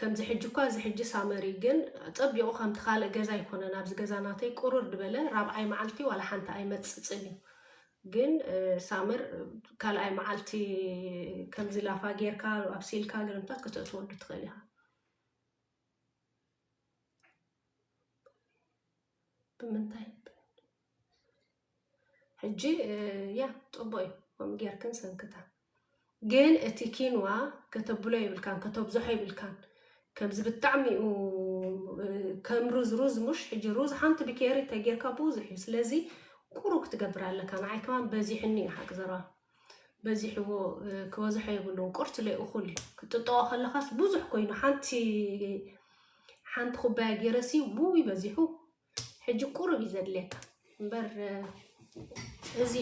ከምዚ ሕጂ እኳ እዚ ሕጂ ሳመር እዩ ግን ጸቢቑ ከምቲ ካልእ ገዛ ኣይኮነን ኣብዚ ገዛ ናተይ ቁርር ድበለ ራብዓይ መዓልቲ ዋላ ሓንቲ ኣይመጽጽን እዩ ግን ሳመር ካልኣይ መዓልቲ ከምዚ ላፋ ጌርካ ኣብሲልካ ግርምታት ከተእትወሉ ትኽእል ኢኻ ብምንታይ ሕጂ ያ ፅቡቅ እዩ ከምኡ ጌርክን ሰንክታ ግን እቲ ኪንዋ ከተብሎ የብልካን ከተብዝሖ የብልካን ከምዚ ብጣዕሚ እዩ ከም ሩዝ ሩዝ ሙሽ ሕጂ ሩዝ ሓንቲ ብኬሪ ተጌርካ ብዙሕ እዩ ስለዚ ቁሩብ ክትገብር ኣለካ ንዓይ ከማን በዚሕኒ እዩ ሓቂ ዘረባ በዚሕዎ ክበዝሖ የብሉን ቁርትለይ እኹል እዩ ክትጥጠቆ ከለኻስ ብዙሕ ኮይኑ ሓንቲ ሓንቲ ኩባያ ገይረሲ ውይ በዚሑ ሕጂ ቁሩብ እዩ ዘድልየካ እምበር እዚ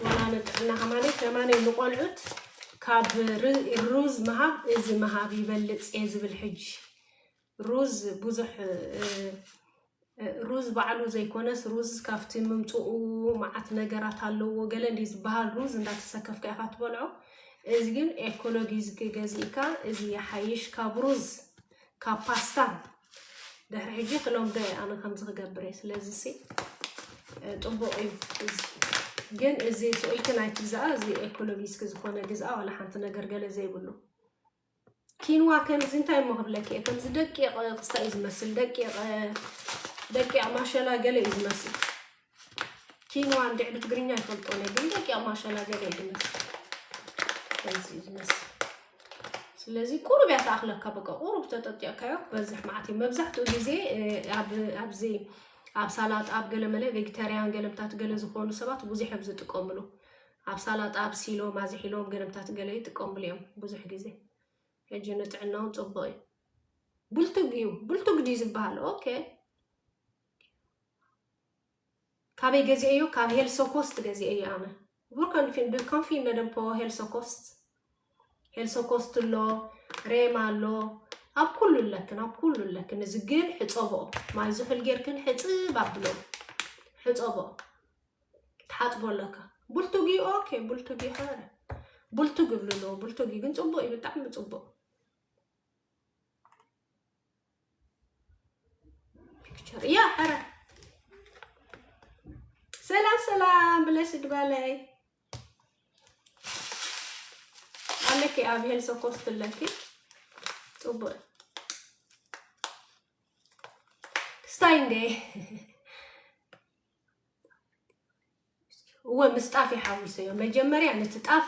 ዋላ ንጥዕናኻ ማለት ከማነይ ንቆልዑት ካብ ሩዝ ምሃብ እዚ ምሃብ ይበልፅ እየ ዝብል ሕጂ ሩዝ ብዙሕ ሩዝ ባዕሉ ዘይኮነስ ሩዝ ካብቲ ምምፅኡ መዓት ነገራት ኣለዎ ገለ እንዲ ዝበሃል ሩዝ እንዳተሰከፍካ ኢኻ ትበልዖ እዚ ግን ኤኮሎጊ ዝገዝእካ እዚ ይሓይሽ ካብ ሩዝ ካብ ፓስታ ድሕሪ ሕጂ ክለምዶ እየ ኣነ ከምዚ ክገብር እየ ስለዚ ሲ ጥቡቕ እዩ ግን እዚ ስእልክን ኣይትግዛኣ እዚ ኤኮሎጊስክ ዝኾነ ግዝኣ ዋላ ሓንቲ ነገር ገለ ዘይብሉ ኪንዋ ከምዚ እንታይ እሞ ክብለኪ እየ ከምዚ ደቂቕ ክስታ እዩ ዝመስል ደቂቕ ደቂቕ ማሸላ ገለ እዩ ዝመስል ኪንዋ እንድዕ ብትግርኛ ይፈልጦ ነ ግን ደቂቕ ማሸላ ገለ እዩ ዝመስል ከምዚ እዩ ዝመስል ስለዚ ቁሩብ እያ ተኣኽለካ በቃ ቁሩብ ተጠጢቕካዮ ክበዝሕ መዓት እዩ መብዛሕትኡ ግዜ ኣብዚ ኣብ ሳላጣ ኣብ ገለ መለ ቬጌታርያን ገለምታት ገለ ዝኾኑ ሰባት ብዙሕ እዮም ዝጥቀምሉ ኣብ ሳላጣ ኣብሲሎም ኣዝሒሎም ገንብታት ገለ ይጥቀምሉ እዮም ብዙሕ ግዜ ሕጂ ንጥዕና ውን ጽቡቅ እዩ ብልቱግ እዩ ብልቱግ ድዩ ዝበሃል ኦኬ ካበይ ገዚኤዮ ካብ ሄልሶ ኮስት ገዚኤዮ ኣነ ቡርካን ፊን ዱካን ፊን ነደም ፖ ሄልሶ ኮስት ሄልሶ ኮስት ኣሎ ሬማ ኣሎ ኣብ ኩሉ ኣለክን ኣብ ኩሉ ኣለክን እዚ ግን ሕፀቦ ማይ ዝሑል ጌርክን ሕፅብ ኣብሎ ሕፀቦ ትሓጽቦ ኣለካ ቡልቱጊ ኦኬ ቡልቱጊ ኸረ ቡልቱግ ይብሉ ኣለዎ ቡልቱጊ ግን ፅቡቅ እዩ ብጣዕሚ ፅቡቅ ፒክቸር ያ ኸረ ሰላም ሰላም ብለሽ ድባለይ ኣለኪ ኣብ ሄልሶ ኮስት ኣለኪ ፅቡቅ ክስታይ እንዴ እወ ምስ ጣፍ ይሓዊሰዮ መጀመርያ ነቲ ጣፍ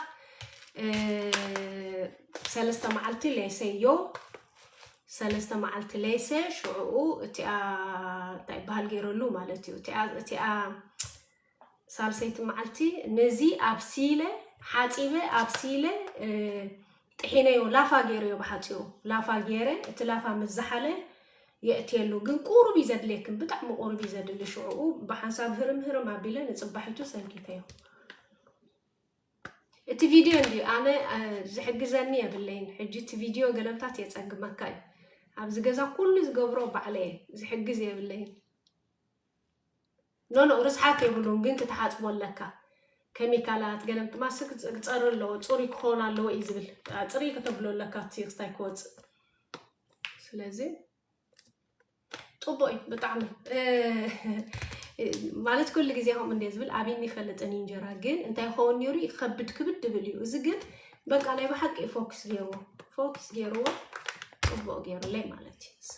ሰለስተ መዓልቲ ለይሰዮ ሰለስተ መዓልቲ ለይሰ ሽዕኡ እቲኣ እንታይ ይበሃል ገይረሉ ማለት እዩ እቲኣ ሳልሰይቲ መዓልቲ ነዚ ኣብሲለ ሓፂበ ኣብሲለ ጥሒነዮ ላፋ ጌረዮ ብሓጺሩ ላፋ ጌረ እቲ ላፋ ምስ ዝሓለ የእትየሉ ግን ቁሩብ እዩ ዘድልየክን ብጣዕሚ ቁሩብ እዩ ዘድሊ ሽዑኡ ብሓንሳብ ህርም ህርም ኣቢለ ንጽባሒቱ ሰንኪተዮ እቲ ቪድዮ እንድዩ ኣነ ዝሕግዘኒ የብለይን ሕጂ እቲ ቪድዮ ገለምታት የፀግመካ እዩ ኣብዚ ገዛ ኩሉ ዝገብሮ ባዕለ እየ ዝሕግዝ የብለይን ኖኖእ ርስሓት የብሉን ግን ክትሓጽቦ ኣለካ ከሚካላት ገለ ማስክ ክጸሪ ኣለዎ ጽሩይ ክኾን ኣለዎ እዩ ዝብል ጽሪ ከተብሎ ኣለካ እቲ ክስታይ ክወጽእ ስለዚ ጽቡቅ እዩ ብጣዕሚ ማለት ኩሉ ግዜ ከምኡ እንደ ዝብል ኣብኒ ይፈልጥን እዩ እንጀራ ግን እንታይ ይኸውን ነይሩ ይከብድ ክብድ ድብል እዩ እዚ ግን በቃ ናይ ብሓቂ እዩ ፎክስ ገይርዎ ፎክስ ገይርዎ ፅቡቅ ገይሩለይ ማለት እዩ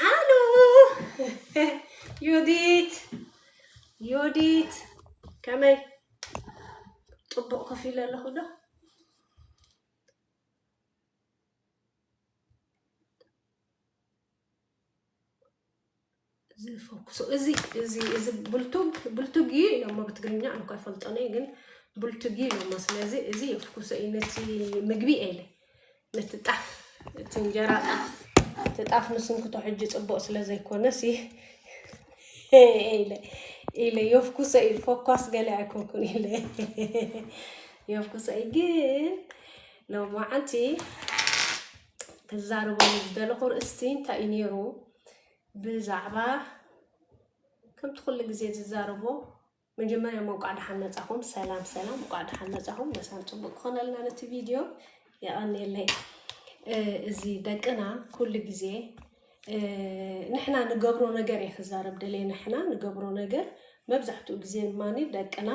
ሃሎ ዮዲት ዮዲት ከመይ ፅቡቅ ኮፍ ኢለ ኣለኹ ዶ ዝፈኩሶ እዚ እዚ እዚ ብልቱግ ብልቱግ እዩ ኢሎሞ ብትግርኛ ኣንኳ ይፈልጦነ ግን ብልቱግ እዩ ኢሎሞ ስለዚ እዚ የፍኩሶ እዩ ነቲ ምግቢ ኤለ ነቲ ጣፍ እቲ እንጀራ ጣፍ እቲ ጣፍ ንስንክቶ ሕጂ ፅቡቅ ስለ ዘይኮነስ ኢለ ኢለ የፍኩሶ እዩ ፈኳስ ገለ ኣይኮንኩን ኢለ የፍኩሶ እዩ ግን ሎማዓንቲ ክዛረበሉ ዝደለኹ ርእስቲ እንታይ እዩ ነይሩ ብዛዕባ ከምቲ ኩሉ ግዜ ዝዛረቦ መጀመርያ እንቋዕ ደሓን መጻኹም። ሰላም ሰላም፣ እንቋዕ ደሓን መጻኹም። መሳን ጽቡቅ ክኾነልና ነቲ ቪድዮ የቀንየለይ። እዚ ደቅና ኩሉ ግዜ ንሕና ንገብሮ ነገር እየ ክዛረብ ደልየ ንሕና ንገብሮ ነገር መብዛሕትኡ ግዜ ድማ ደቅና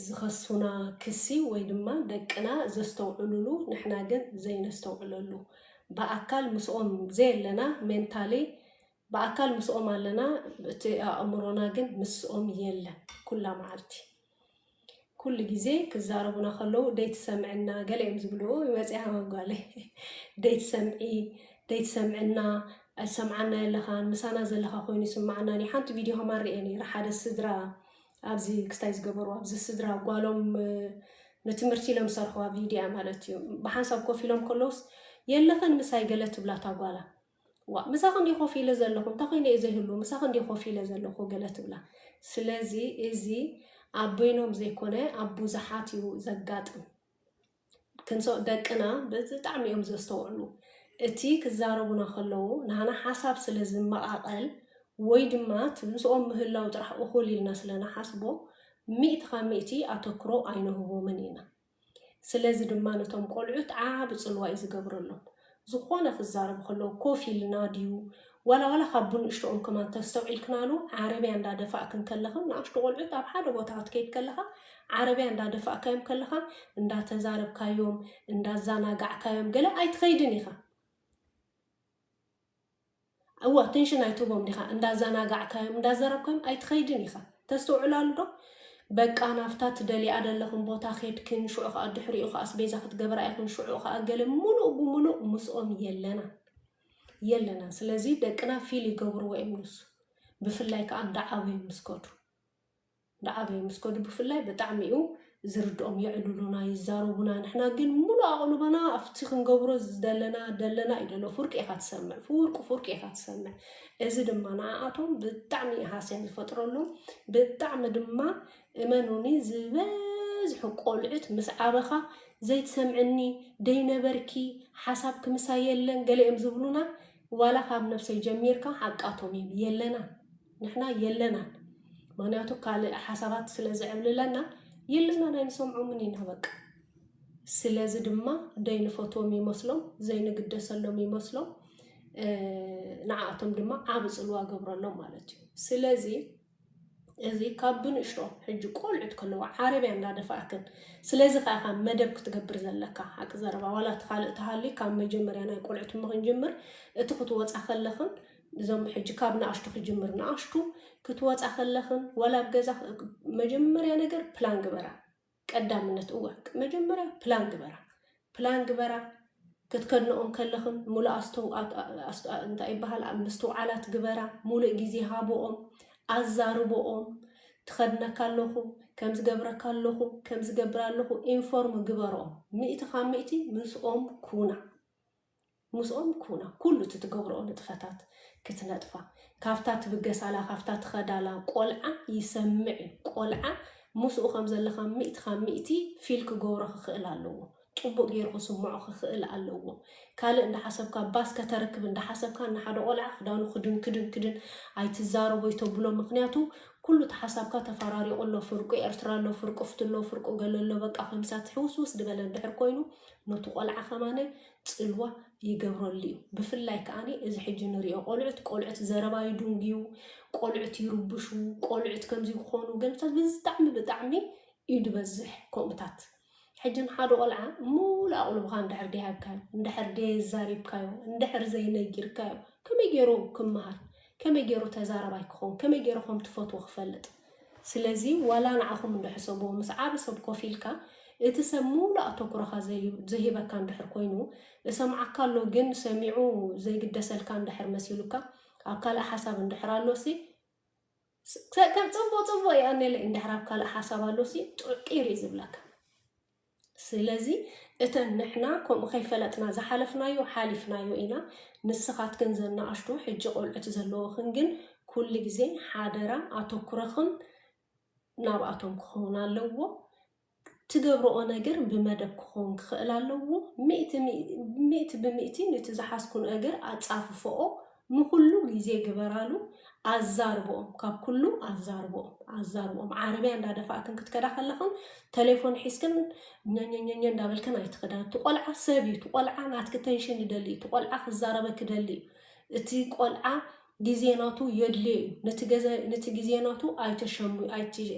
ዝኸሱና ክሲ ወይ ድማ ደቅና ዘስተውዕሉሉ ንሕና ግን ዘይነስተውዕለሉ ብኣካል ምስኦም ዘየለና ሜንታሊ ብኣካል ምስኦም ኣለና እቲ ኣእምሮና ግን ምስኦም የለን ኩላ መዓልቲ ኩሉ ግዜ ክዛረቡና ከለዉ ደይትሰምዕና ገለ እዮም ዝብልዎ ይመፅያ መጓለ ደይትሰምዒ ደይትሰምዕና ኣይሰምዓና የለኻን ምሳና ዘለኻ ኮይኑ ይስማዓና ሓንቲ ቪድዮ ከማን ርኤ ነይረ ሓደ ስድራ ኣብዚ ክስታይ ዝገበርዎ ኣብዚ ስድራ ጓሎም ንትምህርቲ ኢሎም ዝሰርሕዋ ቪድያ ማለት እዩ ብሓንሳብ ኮፍ ኢሎም ከለውስ የለኽን ምሳይ ገለ ትብላ እታ ጓላ ዋ ምሳኽ እንዲ ኮፍ ኢለ ዘለኹ እንታይ ኮይነ እዩ ዘይህሉ ምሳኽ እንዲ ኮፍ ኢለ ዘለኹ ገለ ትብላ ስለዚ እዚ ኣብ በይኖም ዘይኮነ ኣብ ብዙሓት እዩ ዘጋጥም ክንሶ ደቅና ብጣዕሚ እዮም ዘስተውዕሉ። እቲ ክዛረቡና ከለዉ ናህና ሓሳብ ስለ ዝመቓቐል ወይ ድማ እቲ ምስኦም ምህላው ጥራሕ እኹል ኢልና ስለ ንሓስቦ ሚእቲ ካብ ሚእቲ ኣተኩሮ ኣይንህቦምን ኢና። ስለዚ ድማ ነቶም ቆልዑት ዓቢ ጽልዋ እዩ ዝገብረሎም። ዝኾነ ክዛረብ ከሎ ኮፍ ኢልና ድዩ ዋላ ዋላ ካብ ብንእሽትኦም ከማን ተስተውዒልክናሉ ዓረብያ እንዳ ደፋእክን ከለኽን ንኣሽቱ ቆልዑት ኣብ ሓደ ቦታ ክትከይድ ከለኻ ዓረብያ እንዳ ደፋእካዮም ከለኻ እንዳ ተዛረብካዮም እንዳ ዛናጋዕካዮም ገለ ኣይትኸይድን ኢኻ እወ ኣተንሽን ኣይትህቦም ዲኻ እንዳዛናጋዕካዮም እንዳዘረብካዮም ኣይትኸይድን ኢኻ ተስትውዕላሉ ዶ በቃ ናብታ ትደልያ ደለኽን ቦታ ኬድክን ሽዑ ከኣ ድሕሪኡ ከኣ ኣስቤዛ ክትገብራ ኢኽን ሽዑ ከኣ ገለ ሙሉእ ብሙሉእ ምስኦም የለናን የለናን ስለዚ ደቅና ፊል ይገብርዎ እዮም ንሱ ብፍላይ ከኣ እንዳዓበዩ ምስ ከዱ እንዳዓበዩ ምስ ከዱ ብፍላይ ብጣዕሚ እዩ ዝርድኦም የዕልሉና ይዛረቡና ንሕና ግን ሙሉእ ኣቕልቦና ኣብቲ ክንገብሮ ዝደለና ደለና እዩ ደሎ ፍርቂ ኢኻ ትሰምዕ ፍርቁ ፍርቂ ኢኻ ትሰምዕ እዚ ድማ ንዓኣቶም ብጣዕሚ እዩ ሃስያ ዝፈጥረሎም ብጣዕሚ ድማ እመኑኒ ዝበዝሑ ቆልዑት ምስ ዓበኻ ዘይትሰምዕኒ ደይነበርኪ ሓሳብ ክምሳ የለን ገለ እዮም ዝብሉና ዋላ ካብ ነብሰይ ጀሚርካ ሓቃቶም እዩ የለና ንሕና የለናን ምክንያቱ ካልእ ሓሳባት ስለ ዝዕብልለና የለናን ኣይንሰምዖምን ኢና በቃ ስለዚ ድማ ደይንፈትዎም ይመስሎም ዘይንግደሰሎም ይመስሎም ንዓኣቶም ድማ ዓብ ፅልዋ ገብረሎም ማለት እዩ ስለዚ እዚ ካብ ብንእሽቶ ሕጂ ቆልዑት ከለዎ ዓረብያ እንዳደፋእክን ስለዚ ከዓ ካብ መደብ ክትገብር ዘለካ ሓቂ ዘረባ ዋላ እቲ ካልእ ተሃልዩ ካብ መጀመርያ ናይ ቆልዑት ምክንጅምር እቲ ክትወፃ ከለክን እዞም ሕጂ ካብ ንኣሽቱ ክጅምር ንኣሽቱ ክትወጻ ከለኽን ዋላ ኣብ ገዛ መጀመርያ ነገር ፕላን ግበራ ቀዳምነት እወ መጀመርያ ፕላን ግበራ ፕላን ግበራ ክትከድንኦም ከለኽን ሙሉእ እንታይ ይበሃል ምስትውዓላት ግበራ ሙሉእ ግዜ ሃብኦም ኣዛርብኦም ትኸድነካ ኣለኹ ከም ዝገብረካ ኣለኹ ከም ዝገብር ኣለኹ ኢንፎርም ግበርኦም ሚእቲ ካብ ሚእቲ ምስኦም ኩና ምስኦም ኩና፣ ኩሉ እቲ ትገብርኦ ንጥፈታት ክትነጥፋ፣ ካብታ ትብገሳላ፣ ካብታ ትኸዳላ ቆልዓ ይሰምዕ እዩ። ቆልዓ ምስኡ ከም ዘለኻ ሚእቲ ካብ ሚእቲ ፊል ክገብሮ ክኽእል ኣለዎ። ጽቡቕ ገይሩ ክስምዖ ክኽእል ኣለዎ። ካልእ እንዳሓሰብካ ባስ ከተርክብ እንዳሓሰብካ ንሓደ ቆልዓ ክዳኑ ክድን ክድን ክድን ኣይትዛረቦ ኣይተብሎ ምክንያቱ ኩሉ እቲ ሓሳብካ ተፈራሪቑ ኣሎ። ፍርቁ ኤርትራ ኣሎ፣ ፍርቁ ፍትሎ፣ ፍርቁ ገለ ኣሎ። በቃ ኮምሳት ሕውስውስ ዝበለ እንድሕር ኮይኑ ነቱ ቆልዓ ከማነ ፅልዋ ይገብረሉ እዩ ብፍላይ ከዓ እዚ ሕጂ ንሪኦ ቆልዑት ቆልዑት ዘረባ ይድንጉዩ ቆልዑት ይርብሹ ቆልዑት ከምዚ ክኾኑ ገምታት ብጣዕሚ ብጣዕሚ እዩ ዝበዝሕ ከምኡታት ሕጂ ንሓደ ቆልዓ ሙሉ ኣቕልብኻ እንድሕር ደይሃብካዮ እንድሕር ደየዛሪብካዮ እንድሕር ዘይነጊርካዮ ከመይ ገይሩ ክመሃር ከመይ ጌሩ ተዛራባይ ክኸውን ከመይ ጌሩ ከም ትፈትዎ ክፈልጥ ስለዚ ዋላ ንዓኹም እንዶ ሕሰብዎ ምስ ዓቢ ሰብ ኮፍ ኢልካ እቲ ሰብ ምሉእ ኣተኩሮኻ ዘይህበካ እንድሕር ኮይኑ እሰምዓካ ኣሎ ግን ሰሚዑ ዘይግደሰልካ እንድሕር መሲሉካ ኣብ ካልእ ሓሳብ እንድሕር ኣሎሲ ከም ጽቡቅ ጽቡቅ ይቀኔለይ እንድሕር ኣብ ካልእ ሓሳብ ኣሎሲ ጥቂር እዩ ዝብለካ ስለዚ እተን ንሕና ከምኡ ከይፈለጥና ዝሓለፍናዮ ሓሊፍናዮ ኢና ንስኻትክን ዘን ንኣሽቱ ሕጂ ቆልዑት ዘለወኽን ግን ኩሉ ግዜ ሓደራ ኣተኩረኽም ናብኣቶም ክኸውን ኣለዎ ትገብረኦ ነገር ብመደብ ክኸውን ክኽእል ኣለዎ ሚእቲ ብሚእቲ ንቲ ዝሓዝኩን እግር ኣጻፍፈኦ ንኹሉ ግዜ ግበራሉ ኣዛርብኦም ካብ ኩሉ ኣዛርብኦም ኣዛርብኦም ዓረብያ እንዳደፋእክን ክትከዳ ከለኽን ተሌፎን ሒዝክን ኛኛኛኛ እንዳበልክን ኣይትኽዳ እቲ ቆልዓ ሰብ እዩ እቲ ቆልዓ ናትኪ ተንሽን ይደሊ እዩ እቲ ቆልዓ ክዛረበ ክደሊ እዩ እቲ ቆልዓ ግዜ ናቱ የድልዮ እዩ ነቲ ግዜ ናቱ ኣይተሸሙ